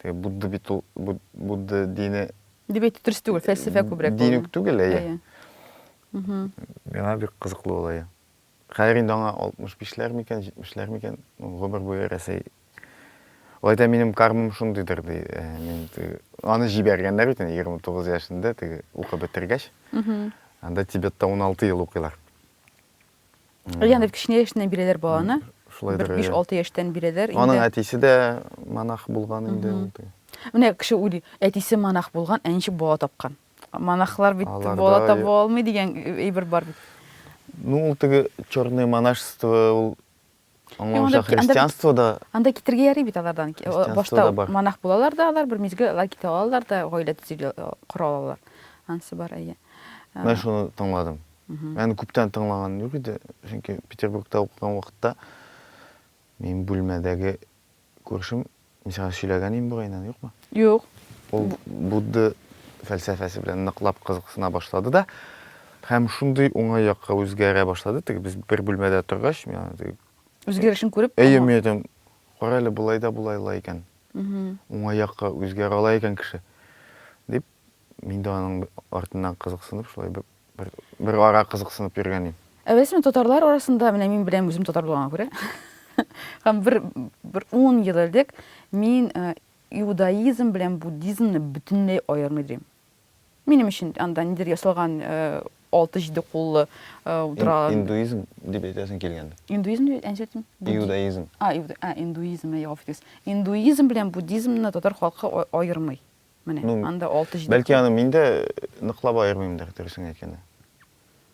Теге будда бит ул будда дине дип әйтү дөрес түгел, фәлсәфә күбрәк. Дин үк түгел, әйе. Миңа бик кызыклы ул, әйе. Хәзер инде аңа 65-ләр микән, 70-ләр микән, гомер буе Рәсәй. Алай да минем кармам шундыйдыр, ди. Э, мин аны җибәргәннәр бит инде 29 яшендә, теге укып бетергәч. Анда Тибетта 16 ел укыйлар. Янып кечкенә яшеннән бирәләр баланы. Шулай да. 5-6 яшьтән бирәләр. Аның әтисе дә монах булган инде ул. Менә кеше уйлый, әтисе монах булган, ә ничек бала тапкан? Монахлар бит бала таба алмый дигән әйбер бар бит. Ну, ул теге черное монашество ул Аңа Юк, анда аша бит- анда бит- христианство да Анда китергә ярый бит алардан. Ки- Христианство Башта да бар. монах булалар да алар, бер мизгел алар китә алалар да, гаилә төзи кора алалар. Анысы бар, әйе. Ә, Мен шуны тыңладым. мгм. Мен күптән тыңлаган юк иде, чөнки Петербургта укыган вакытта мин бүлмәдәге Күршем, мин сиңа сөйләгән идем бугай инде, юкмы? Юк. Ул Будда фәлсәфәсе белән ныклап кызыксына башлады да, һәм шундый уңай якка үзгәрә башлады, теге без бер бүлмәдә торгач, мин аны теге Үзгәрешен күреп, Әйе, мин әйтәм, кара әле, болай да була ала икән. Уңай якка үзгәрә ала икән кеше. Дип, Мин дә аның артыннан кызыксынып, шулай бер, бер, бер ара кызыксынып йөргәнем. Ә рәсми татарлар арасында, менә мин беләм, үзем татар булганга күрә, һәм бер, бер ун ел элек мин иудаизм белән буддизмны бөтенләй аермый дим. Минем өчен анда нидер ясалган алты-җиде куллы утыралар. Индуизм дип әйтәсең килгәндә. Индуизм дип әйтәсең килгәндә. Иудаизм. А, иудаизм, гафу итегез. Индуизм белән буддизмны татар халкы аермый. Менә, ну, анда 6-7. Бәлки аны мин дә ныклап аермыймдыр, дөресен әйткәндә.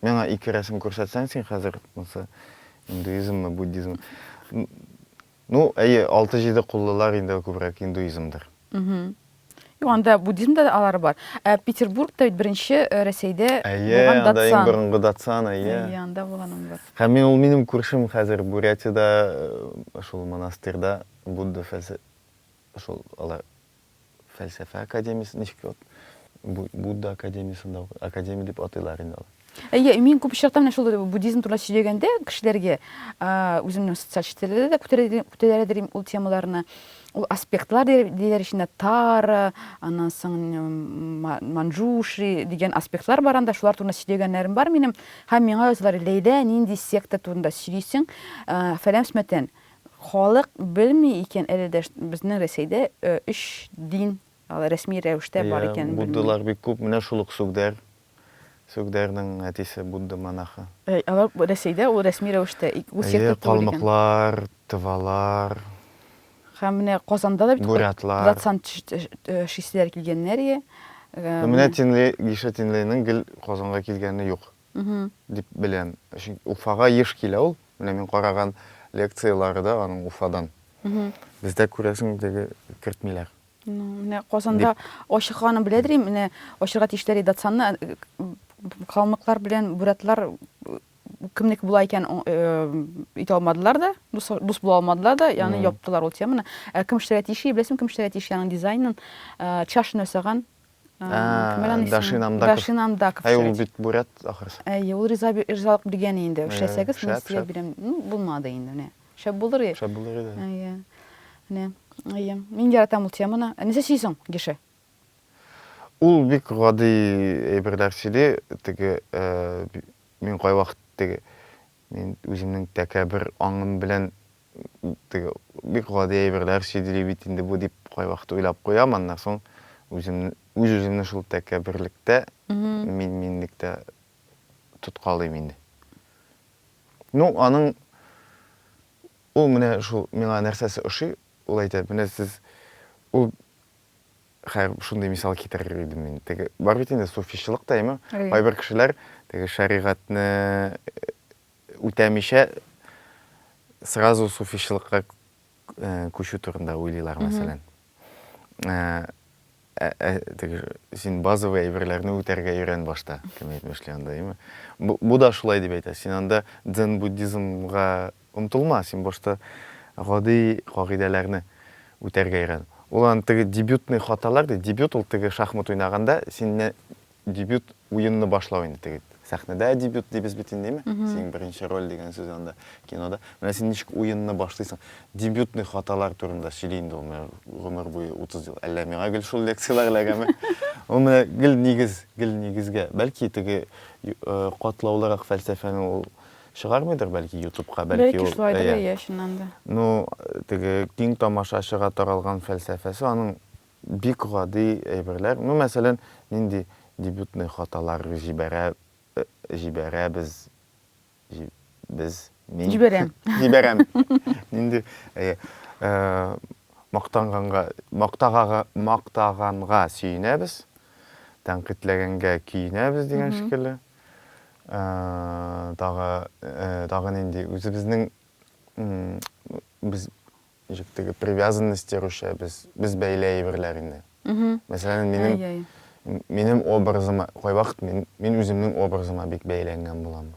Миңа ике рәсем күрсәтсәң син хәзер, монсы индуизммы, буддизммы? Ну, әйе, 6-7 куллылар инде күбрәк индуизмдыр. Угу. Юк, анда буддизмда да алары бар. Ә Петербургта бит беренче э, Рәсәйдә булган датсан. Әйе, анда борынгы датсан, әйе. Әйе, анда булган ул бар. Һәм мин ул минем күршем хәзер Бурятиядә, э, шул монастырьда Будда фәлсә шул алар фәлсәфә академиясе ничек вот Бу- будда академиясында укы- академия дип атыйлар инде алар Әйе, мин күп очракта менә шул буддизм турында сөйләгәндә кешеләргә, а, үземнең социаль челтәрләрдә дә күтәрә- күтәрәдер идем ул темаларны. Ул аспектлар дияр- диләр эчендә тара, аннан соң м, ма- манджуши дигән аспектлар бар анда, шулар турында сөйләгәннәрем бар минем. Һәм миңа язалар, Ләйлә, нинди секта турында сөйлисең? А, Фәлән-фөмәтән. Халык белми икән әле дә безнең Рәсәйдә өч дин алай рәсми рәвештә бар икәнен белми. Буддалар бик күп, менә шул ук Сүгдәр, Сүгдәрнең әтисе Будда монахы. Алар Рәсәйдә ул рәсми рәвештә, үз секта түгел икән. Калмыклар, Тывалар. Һәм менә Казанда да бит процент числиләр килгәннәр, ие. Менә Тинле, Гиша Тинленың гел Казанга килгәне юк. дип беләм. Чөнки Уфага еш килә ул. Менә мин караган лекцияләре дә аның Уфадан. Бездә, күрәсең, теге кертмиләр. Ну, менә Казанда ачыкканын беләдер инде, менә ачырга тиешләр иде Датсанны. Калмыклар белән бурятлар кемнеке була икән, итә алмадылар да, дус була алмадылар да, ягъни яптылар ул теманы. Ә кем эшләргә тиеш, беләсеңме, кем эшләргә тиеш яның дизайнын? Чашны ясаган Дашин Андаков. Дашин Андаков. Әй, ул бит бурят ахырсы. Әй, ул риза ризалык биргән инде. Эшләсәгез, мин сезгә бирәм. Ну, булмады инде, менә. Шәп булыр иде. Шәп булыр иде. Әйе. Менә. Әйе. Мин яратам ул теманы. Нәрсә сөйсең, Геше? Ул бик гади әйберләр сөйли. Теге мин кайвакыт теге мин үземнең тәкәбер аңым белән теге бик гади әйберләр чигли бит инде бу дип кайвакыт уйлап куям, аннан соң үзем үз-үземне шул тәкәбберлектә, мин-минлектә тоткалыйм инде. Ну, аның ул менә шул миңа нәрсәсе ошый, ул әйтә, менә сез ул хәер шундый мисал китерер идем мин. Теге бар бит инде суфичлык та, әйме? Кайбер кешеләр теге шәригатьне үтәмичә сразу суфичлыкка күчү турында уйлыйлар, мәсәлән. Теге син базовый әйберләрне үтәргә өйрән башта, кем әйтмешли анда, име? Бу да шулай дип әйтә. Син анда дзен-буддизмга омтылма, син башта гади кагыйдәләрне үтәргә өйрән. Ул аны теге дебютный хаталар ди. Дебют ул теге шахмат уйнаганда син Дебют уенны башлау инде теге сәхнәдә дебют дибез бит инде, әйме? Синең беренче роль дигән сүз анда кинода. Менә син ничек уенны башлыйсың? Дебютный хаталар турында сөйли инде ул гомер буе 30 ел. Әллә миңа гел шул лекцияләр эләгәме? Ул менә гел нигез, гел нигезгә. Бәлки теге катлаулырак фәлсәфәне ул чыгармыйдыр бәлки ютубка бәлки ул шулайдыр иә чыннан да ну теге киң тамашачыга таралган фәлсәфәсе аның Бик гади әйберләр, ну, мәсәлән, нинди дебютный хаталар җибәрә, җибәрәбез, җи, без, мин. Җибәрәм. Җибәрәм. Нинди, әйе, ә, мактанганга, мактагага, мактаганга сөенәбез, тәнкыйтьләгәнгә көенәбез дигән шикелле. Ә, тагы, ә, тагы нинди, үзебезнең, м, без, Ничек теге привязанностьтер үчә без, без бәйле әйберләр инде. Мәсәлән, минем минем образыма кайвакыт мин мин үземнең образыма бик бәйләнгән булам.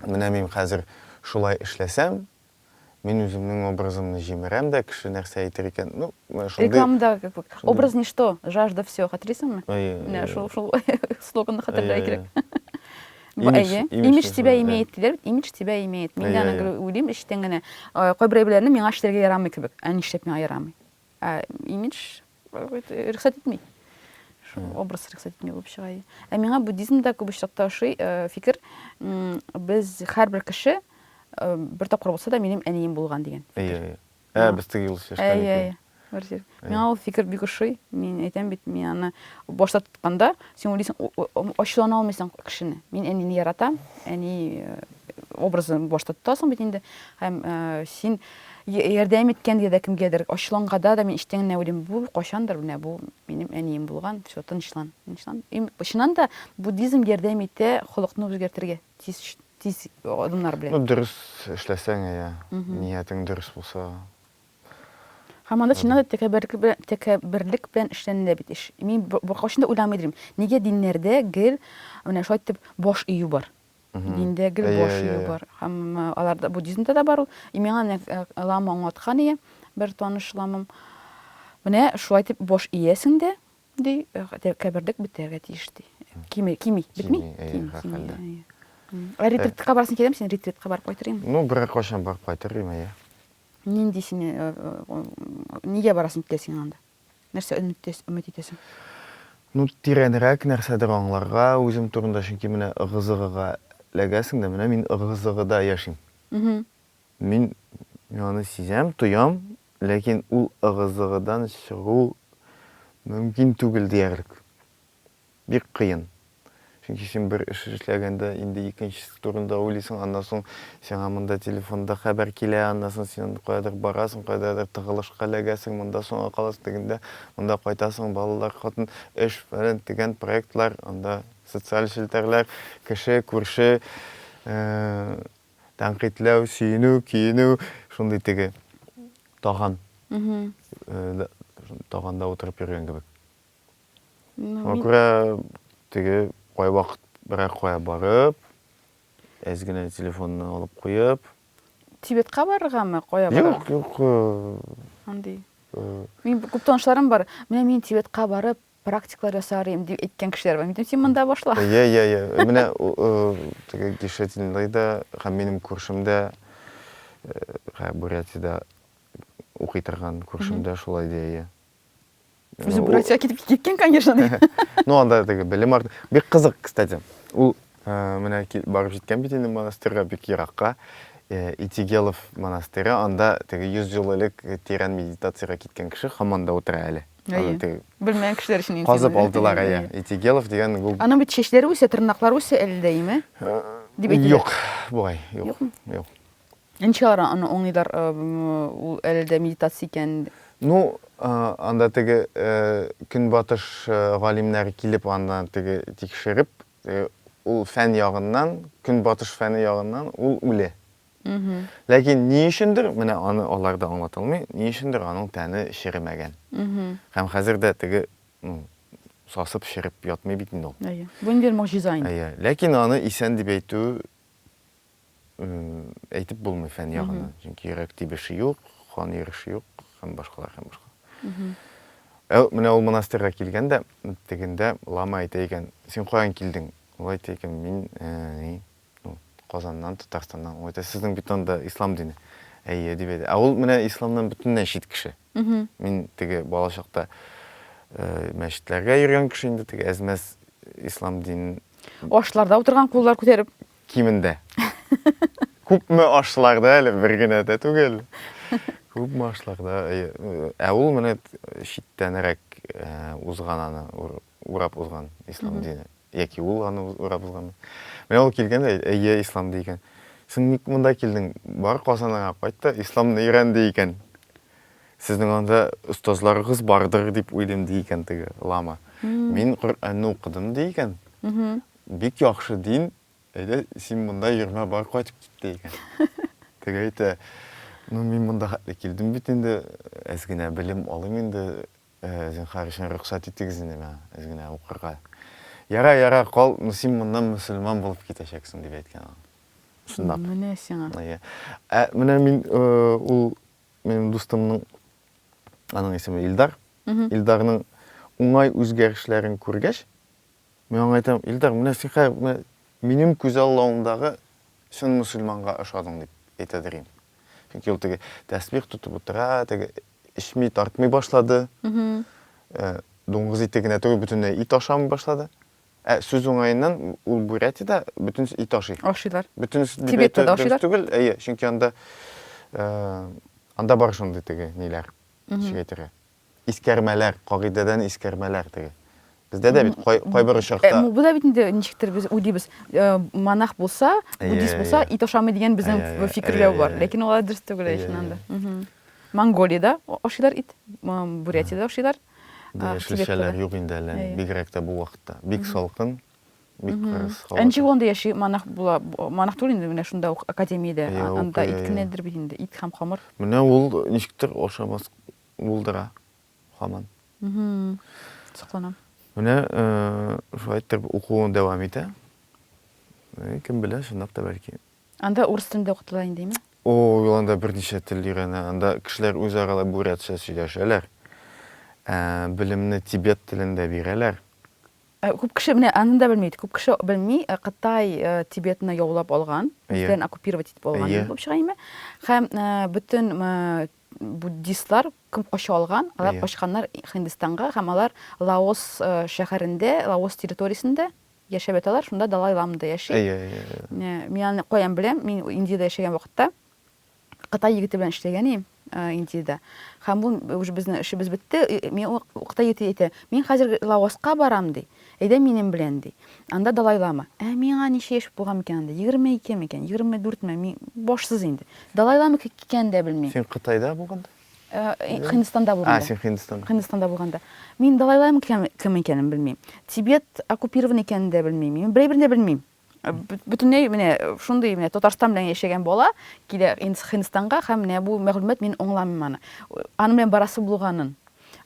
Менә мин хәзер шулай эшләсәм, мин үземнең образымны җимерәм дә, кеше нәрсә әйтер икән. Ну, шундый. Рекламада образ ничто, жажда все, хәтерлисеңме? Менә шул шул слоганны хәтерләргә кирәк. Әйе, имидж тебя имеет диләр бит, имидж тебя имеет. Мин дә аны уйлыйм эчтән генә. Кайбер әйберләрне миңа эшләргә ярамый кебек. Ә нишләп миңа ярамый? Ә имидж рөхсәт итми. Шул образ рөхсәт итми булып чыга. Ә миңа буддизмда күп очракта ошый фикер, без һәрбер кеше бер тапкыр булса да минем әнием булган дигән. Әйе. Ә, без теге юлы сөйләшкән Әйе, икән. әйе. Бер җир. Әйе. Миңа ул фикер бик ошый. Мин әйтәм бит, мин аны башта тотканда, син уйлыйсың, у- у- у- ачулана алмыйсың кешене. Мин әнине яратам, әни э, образын башта тотасың бит инде. Һәм э, син я- ярдәм иткәнгә дә кемгәдер, ачуланганда да мин эчтән генә уйлыйм, бу кайчандыр менә бу минем әнием булган, все, тынычлан, тынычлан. И, чыннан да буддизм ярдәм итә холыкны үзгәртергә. тиз тиз адымнар белән. Ну дөрес эшләсәң иә, ниятең дөрес булса. Һәм анда чыннан да тәкәбберлек белән тәкәбберлек белән эшләнелә бит эш. Мин беркайчан да уйламый идем, нигә диннәрдә гел менә шулай итеп баш ию бар. Диндә гел баш ию бар. Һәм аларда буддизмда да бар ул. И миңа лама аңлаткан ие, бер таныш ламам. Менә шулай итеп баш иясең дә, Ди, кәбердек бетәргә тиеш ди. Кими, кими, бетми? Кими, хәлдә. Ә ретритка барсын киләм, син ретритка барып кайтырым. Ну, бер кошан барып кайтырым, әйе. Нинди син нигә барасың китә син анда? Нәрсә өмет итәсең? Ну, тирәнрәк нәрсәдер аңларга үзем турында, чөнки менә ыгы-зыгыга ләгәсең дә, менә мин ыгы-зыгыда яшим. Мин аны сизәм, тоям, ләкин ул ыгы-зыгыдан чыгу мөмкин түгел диярлек. Бик кыен. Чөнки син бер эш эшләгәндә, инде икенчесе турында уйлыйсың, аннан соң сиңа монда телефонда хәбәр килә, аннан соң син каядыр барасың, кайдадыр тыгылышка эләгәсең, монда соңга каласың, тегендә, монда кайтасың, балалар, хатын, эш, фәлән-төгән проектлар, анда социаль челтәрләр, кеше, күрше, Тәнкыйтьләү, сөенү, көенү, шундый теге таган, таганда утырып йөргән кебек. Шуңа күрә теге кайвакыт берәр кая барып, әз генә телефонны алып куеп. Тибетка барыргамы, кая барырга? Юк, юк. Андый. Минем күп танышларым бар. Менә мин Тибетка барып, практикалар ясар идем дип әйткән кешеләр бар. Мин син монда башла. Йә, йә, йә. Менә теге Гишетинлый да һәм минем күршем дә Бурятиядә укый торган күршем дә шулай ди, әйе. Үзе Бурятиягә китеп киткән, конечно, ди. Ну, анда теге белем арты. Бик кызык, кстати. Ул менә барып җиткән бит инде монастырьга бик еракка. Итигелов монастыре, анда теге 100 ел элек тирән медитациягә киткән кеше һаман да утыра әле. Әйе. Белмәгән кешеләр өчен интегел. Казып алдылар, әйе. Интегелов дигән бу. Аның бит чәчләре үсә, тырнаклары үсә әле дә, име? Дип әйтелә. Юк, бугай, юк. Юк. Ничек алар аны аңлыйлар, ул әле дә медитация икән? Ну, анда теге көнбатыш галимнәре килеп анда теге тикшереп, ул фән ягыннан, көнбатыш фәне ягыннан ул үле. Ләкин ни өчендер, менә аны алар да аңлатылмый, ни өчендер аның тәне черемәгән. Һәм хәзер дә теге сасып череп ятмый бит инде ул. Әйе. Бу инде могҗиза инде. Әйе. Ләкин аны исән дип әйтү әйтеп булмый фән ягыннан. Чөнки йөрәк тибеше юк, кан йөреше юк һәм башкалар һәм башкалар. Ә менә ул монастырьга килгән дә, тегендә лама әйтә икән, син каян килдең? Ул әйтә икән, мин Казаннан, Татарстаннан. Ул әйтә, сезнең бит анда ислам дине. Әйе, дип әйтә. Ә ул менә исламнан бөтенләй чит кеше. Мин теге бала чакта мәчетләргә йөргән кеше инде, теге әзмәс ислам динен. Ашларда утырган куллар күтәреп. Кимендә. Күпме ашларда әле, бер генә дә түгел. Күпме ашларда. Ә ул менә читтәнрәк узган аны урап узган ислам дине. Яки ул аны урап узганмы? Менә ул килгән дә, әйе, ислам ди икән. Син ник монда килдең? Бар Казаныңа кайт та, исламны өйрән ди икән. Сезнең анда остазларыгыз бардыр дип уйлыйм ди икән теге лама. Мин Коръәнне укыдым ди икән. Бик яхшы дин. Әйдә, син монда йөрмә, бар кайтып кит ди икән. Теге әйтә, ну мин монда хәтле килдем бит инде, әз генә белем алыйм инде, Зинхар өчен рөхсәт итегез инде миңа әз генә укырга. Ярар, ярар, кал, син моннан мөселман булып китәчәксең, дип әйткән аңа. Чынлап. Менә сиңа. Әйе. Ә менә мин ул минем дустымның, аның исеме Илдар, Илдарның уңай үзгәрешләрен күргәч, Мин аңа әйтәм, Илдар, менә син хәзер менә минем күзаллавымдагы чын мөселманга ошадың, дип әйтәдер идем. Чөнки ул теге тәсбих тотып утыра, теге эчми, тартмый башлады. Э, дуңгыз ите генә түгел, бөтенләй ит ашамый башлады. Ә сүз уңаеннан ул Бурятиядә бөтен ит ашый. Ашыйлар. Бөтен Тибетта да ашыйлар. Түгел, әйе, чөнки анда э, анда бар шундый теге ниләр, ничек әйтергә, Искәрмәләр, кагыйдәдән искәрмәләр теге. Бездә дә бит кай, кайбер очракта... Э, бу да бит инде ничектер без уйдибез, э, монах булса, буддист булса, ит ашамый дигән безнең фикерләү бар. Ләкин алар дөрес түгел ичнан да. Монголиядә ашыйлар ит, Бурятиядә ашыйлар. Яшелчәләр юк инде әле, бигрәк тә бу вакытта. Бик салкын, бик кырыс һава. Энҗи гонда яши, монах була, монах түгел инде, менә шунда ук академиядә, анда ит кенәдер бит инде, ит һәм хамыр. Менә ул ничектер ашамас булдыра һаман. Сокланам. Менә шулай итеп укуын дәвам итә. Кем белә, чынлап та бәлки. Анда урыс телендә укытыла индеме? Ул анда берничә тел өйрәнә. Анда кешеләр үзара да бурятча сөйләшәләр. Ә белемне тибет телендә бирәләр. Ә күп кеше менә аны да белми. Күп кеше белми, ә Кытай Тибетны яулап алган, үзләрен оккупировать итеп алган булып чыга име? Һәм бөтен Буддистлар күп кача алган, алар качканнар Һиндстанга һәм алар Лаос шәһәрендә, Лаос территориясендә яшәп яталар, шунда Далай Лама да яши. Әйе, әйе, әйе. Мин аны каян беләм? Мин Индиядә яшәгән вакытта Кытай егете белән эшләгән идем Индиядә. Һәм ул уже безнең эшебез бетте, миңа Кытай егете әйтә, мин хәзер Лаоска барам, ди. Әйдә минем белән, ди. Анда далайлама. Ә миңа ничә яшь булган микән анда? Егерме ике микән? Егерме дүртме? Мин башсыз инде. Далайлама икәнен дә белмим. Син Кытайда булганда? Һиндстанда булганда. А, син Һиндстанда. Һиндстанда булганда. Мин далайлама кем икәнен белмим. Тибет оккупирован икәнен дә белмим. Мин берәйберен дә белмим. бөтенләй менә шундый менә Татарстан белән яшәгән бала килә Хинстанга һәм менә бу мәгълүмат мин аңламыйм аны. Аның белән барасы булганын.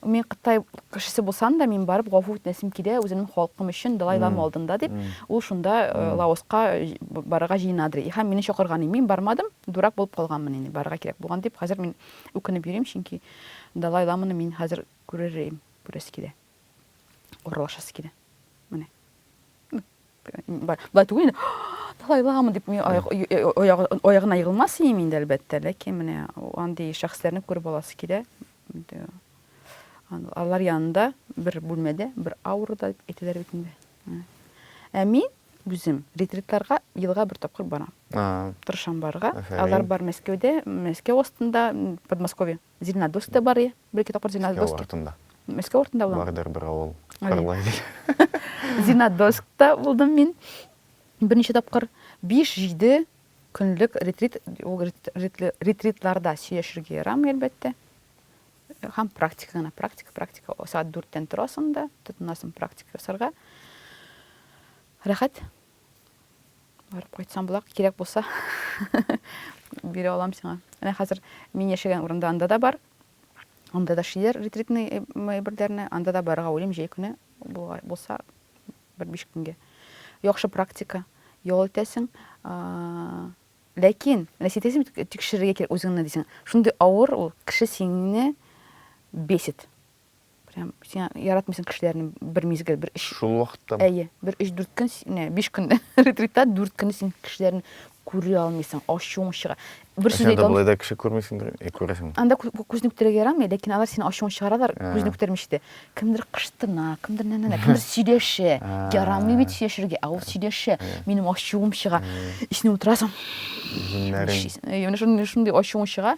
Мин Кытай кешесе булсам да, мин барып гафу үтенәсем килә үземнең халкым өчен Далай Лама алдында дип. Ул шунда э, Лаоска э, барырга җыенадыр. Һәм мине чакырган, мин бармадым, дурак булып калганмын инде, барырга кирәк булган дип. Хәзер мин үкенеп йөрим, чөнки Далай Ламаны мин хәзер күрер идем, күрәсе килә. Орлашасы килә. Менә. Былай түгел инде. Талайламы дип мин аягына егылмас идем инде әлбәттә, ләкин менә андый шәхесләрне күреп аласы килә. Алар янында бер бүлмәдә, бер аурада дип әйтәләр бит инде. Ә мин үзем ретритларга елга бер тапкыр барам. Тырышам барырга. Алар бар Мәскәүдә, Мәскәү астында, Подмосковье. Зеленодольскта бар, ие. Бер-ике тапкыр Зеленодольскта. Мәскәү артында. Мәскәү артында буламы? Бардыр бер авыл. Кырлай дигән. Зеленодольскта булдым мин берничә тапкыр. Биш-җиде көнлек ретрит, ул ретритларда сөйләшергә ярамый, әлбәттә. Һәм практика гына, практика, практика. Сәгать дүрттән торасың да, тотынасың практика ясарга. Рәхәт. барып кайтсам була кирәк булса бирә алам сиңа менә хәзер мин яшәгән урында анда да бар анда да шиләр ретритный әйберләрне анда да барырга уйлыйм җәй көне булса бер биш көнгә яхшы практика ял итәсең ләкин менә син тикшерергә кирәк үзеңне дисең шундый авыр ул кеше сине бесит прям син яратмыйсың кешеләрне бер мизгел бер өч шул вакытта әйе бер өч дүрт көн не биш көн ретритта дүрт көн син кешеләрне күрә алмыйсың ачуың чыга бер сүз әйтә алмыйсың да кеше күрмисеңдер э, күрәсең анда күзне күтәрергә ярамый ләкин алар синең ачуың чыгаралар ә. күзне күтәрмичә дә кемдер кыштына кемдер нәнә кемдер сөйләшә ә. ярамый бит сөйләшергә ә ул сөйләшә ә. минем ачуым чыга эченә утырасың менә шундый ачуың чыга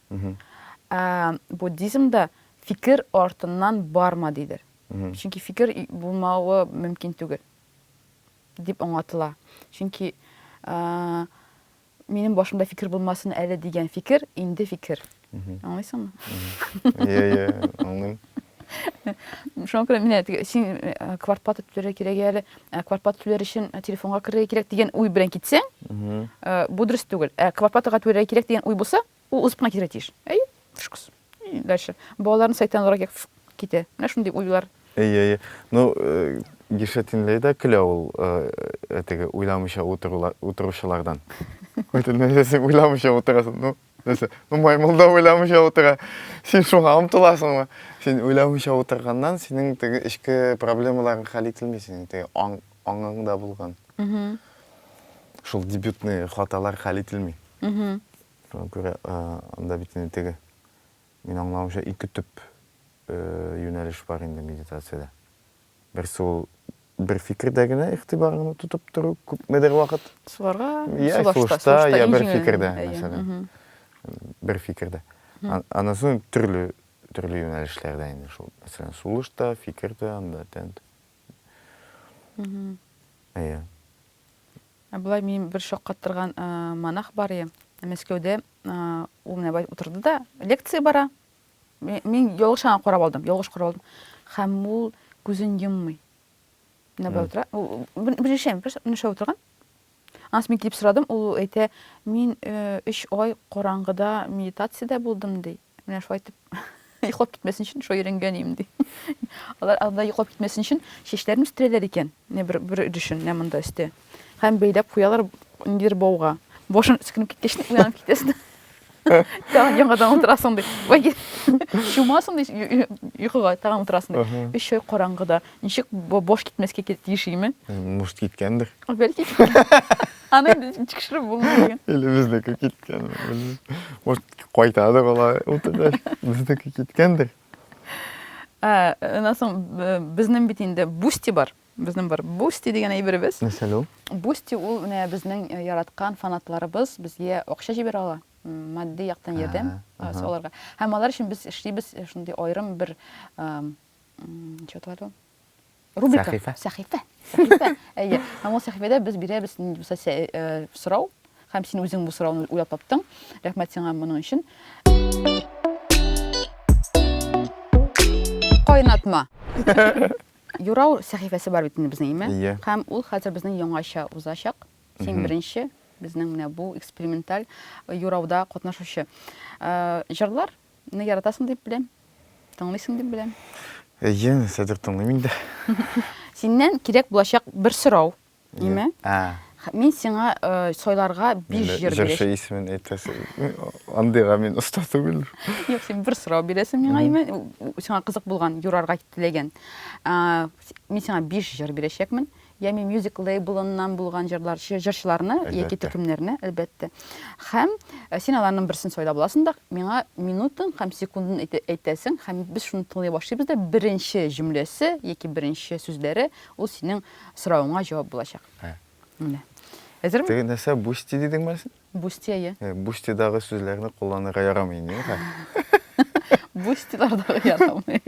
Ә буддизмда фикер артыннан барма дидер. Чөнки фикер булмавы мөмкин түгел дип аңлатыла. Чөнки минем башымда фикер булмасын әле дигән фикер инде фикер. Аңлыйсыңмы? Иә, иә, аңлыйм. Шуңа күрә менә теге син э, квартплата түләргә кирәк әле, ә квартплата түләр өчен э, телефонга керергә кирәк дигән уй белән китсәң, Мгм. э, бу дөрес түгел. Ә квартплатага түләргә кирәк дигән уй булса, ул узып кына китәргә тиеш. Әйе, фшкс. И дальше. Балаларны сайтан алырга кирәк, фш, китә. Менә шундый уйлар. Әйе, әйе. Ну, э, Гишетинлей дә көлә ул э, теге уйламыйча утырулар- утыручылардан. Бөтен нәрсәсен уйламыйча утырасың. Ну, Нәрсә? Ну, маймыл да уйламыйча утыра. Син шуңа омтыласыңмы? Син уйламыйча утырганнан синең теге эчке проблемаларың хәл ителми, синең теге аң, аңыңда булган. Шул дебютный хаталар хәл ителми. Шуңа күрә анда бит инде теге мин аңлавымча ике төп юнәлеш бар инде медитациядә. Берсе ул бер фикердә генә игътибарыңны тотып тору күпмедер вакыт. Суларга, я сулышта, я бер фикердә, мәсәлән. Бер фикердә. Аннан соң төрле төрле юнәлешләрдә инде шул. Мәсәлән, сулышта, фикердә, анда тәнт. Әйе. Ә болай мин бер шаккаттырган монах бар иде. Мәскәүдә ул менә утырды да, лекция бара. Мин ялгыш гына карап алдым, ялгыш карап алдым. Хәм ул күзен йоммый. Менә бер утыра. Беренче әйбер, менә шулай утырган. Анс мин килеп сорадым, ул әйтә, мин 3 э, ай караңгыда медитациядә булдым ди. Менә шулай итеп йоклап китмәсен өчен шулай өйрәнгән идем ди. Алар анда йоклап китмәсен өчен чәчләрен үстерәләр икән. Не бер бер өлешен менә монда өстә. Һәм бәйләп куялар ниндидер бауга. Башын үскенеп киткәч, уянып китәсен. Тагын яңадан утырасың ди. Вай, чумасың ди, йокыга тагын утырасың ди. Өч ай караңгыда. Ничек баш китмәскә тиешиме? Может, киткәндер. Бәлки. Аны тикшереп булмый. Или безнеке киткән. Может, кайтады була. Утыргач, безнеке киткәндер. Аннан соң безнең бит инде Бусти бар. Безнең бар Бусти дигән әйберебез. Нәрсәле ул? Бусти ул менә безнең э, яраткан фанатларыбыз безгә акча җибәрә ала, матди яктан ярдәм э, аларга. Һәм алар өчен без эшлибез э, шундый аерым бер что это Рубрика. Сәхифә. Сәхифә. Сәхифә. Әйе. Һәм ул сәхифәдә без бирәбез нинди булса э, сорау. Һәм син үзең бу сорауны уйлап таптың. Рәхмәт сиңа моның өчен. Кайнатма. Юрау сәхифәсе бар бит инде безнең, име? Ие. Һәм ул хәзер безнең яңача узачак. Син беренче безнең менә бу эксперименталь юрауда катнашучы. Э, җырлар Мине яратасың дип беләм. Тыңлыйсың дип беләм. Әйе, хәзер тыңлыйм инде. Синнән кирәк булачак бер сорау. Нимә? Мин сиңа сайларга биш җыр бирәчәк. Җырчы исемен әйтәсе. Андыйга мин оста түгел. Юк, син бер сорау бирәсең миңа, Имә. Сиңа кызык булган, юрарга теләгән. Мин сиңа биш җыр бирәчәкмен. Ями Music лейблыннан булган җырлар, җырчыларны яки төркемнәрне, әлбәттә. Һәм син аларның берсен сайлап аласың да, миңа минутын һәм секундын әйтәсең, һәм без шуны тыңлый башлыйбыз да, беренче җөмләсе яки беренче сүзләре ул синең соравыңа җавап булачак. Менә. Әзерме? Теге нәрсә бусти дидеңме син? Бусти, әйе. Бустидагы сүзләрне кулланырга ярамый инде, юкка. Бустилардагы ярамый.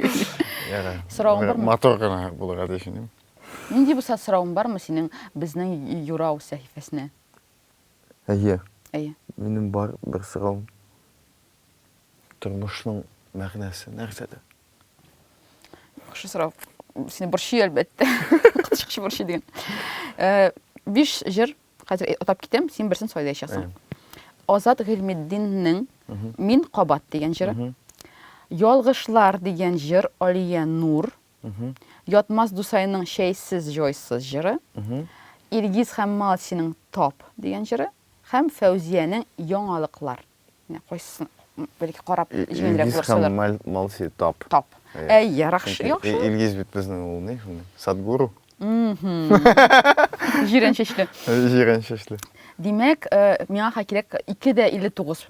Ярар. Соравың бармы? Матур гына булырга тиеш инде. Нинди булса соравың бармы синең безнең юрау сәхифәсенә? Әйе. Әйе. Минем бар бер соравым. Тормышның мәгънәсе нәрсәдә? Яхшы сорау. Сине борчый әлбәттә. Коточкыч борчый дигән. Э, биш җыр хәзер атап китәм, син берсен сайлаячаксың. Азат Гыйльметдиннең Мин кабат дигән җыры. Ялгышлар дигән җыр Алия Нур. Ятмас Дусайның Чәйсез-җойсыз җыры, Илгиз һәм Малсиның Тап дигән җыры һәм Фәүзиянең Яңалыклар. Менә кайсысын бәлки карап җиңелрәк булыр сайлар. Илгиз һәм Малси Тап. Тап. Әй, яракшы, яхшы. Илгиз бит безнең ул ни шуны? Садгуру. Җирән чәчле. Җирән чәчле. Димәк, миңа кирәк 2 дә 59.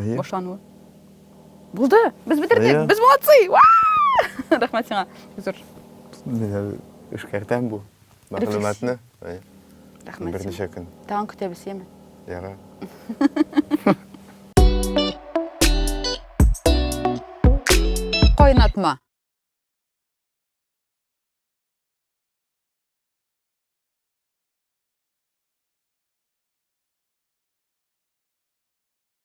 Әйе. Башлануы. Булды! Без бетердек! Әйе. Без молодцы! Уа! Рәхмәт сиңа. Зур. Мин әле эшкәртәм бу мәгълүматны. Әйе. Рәхмәт. сиңа. Берничә көн. Тагын көтәбез, яме. Яра. Кайнатма.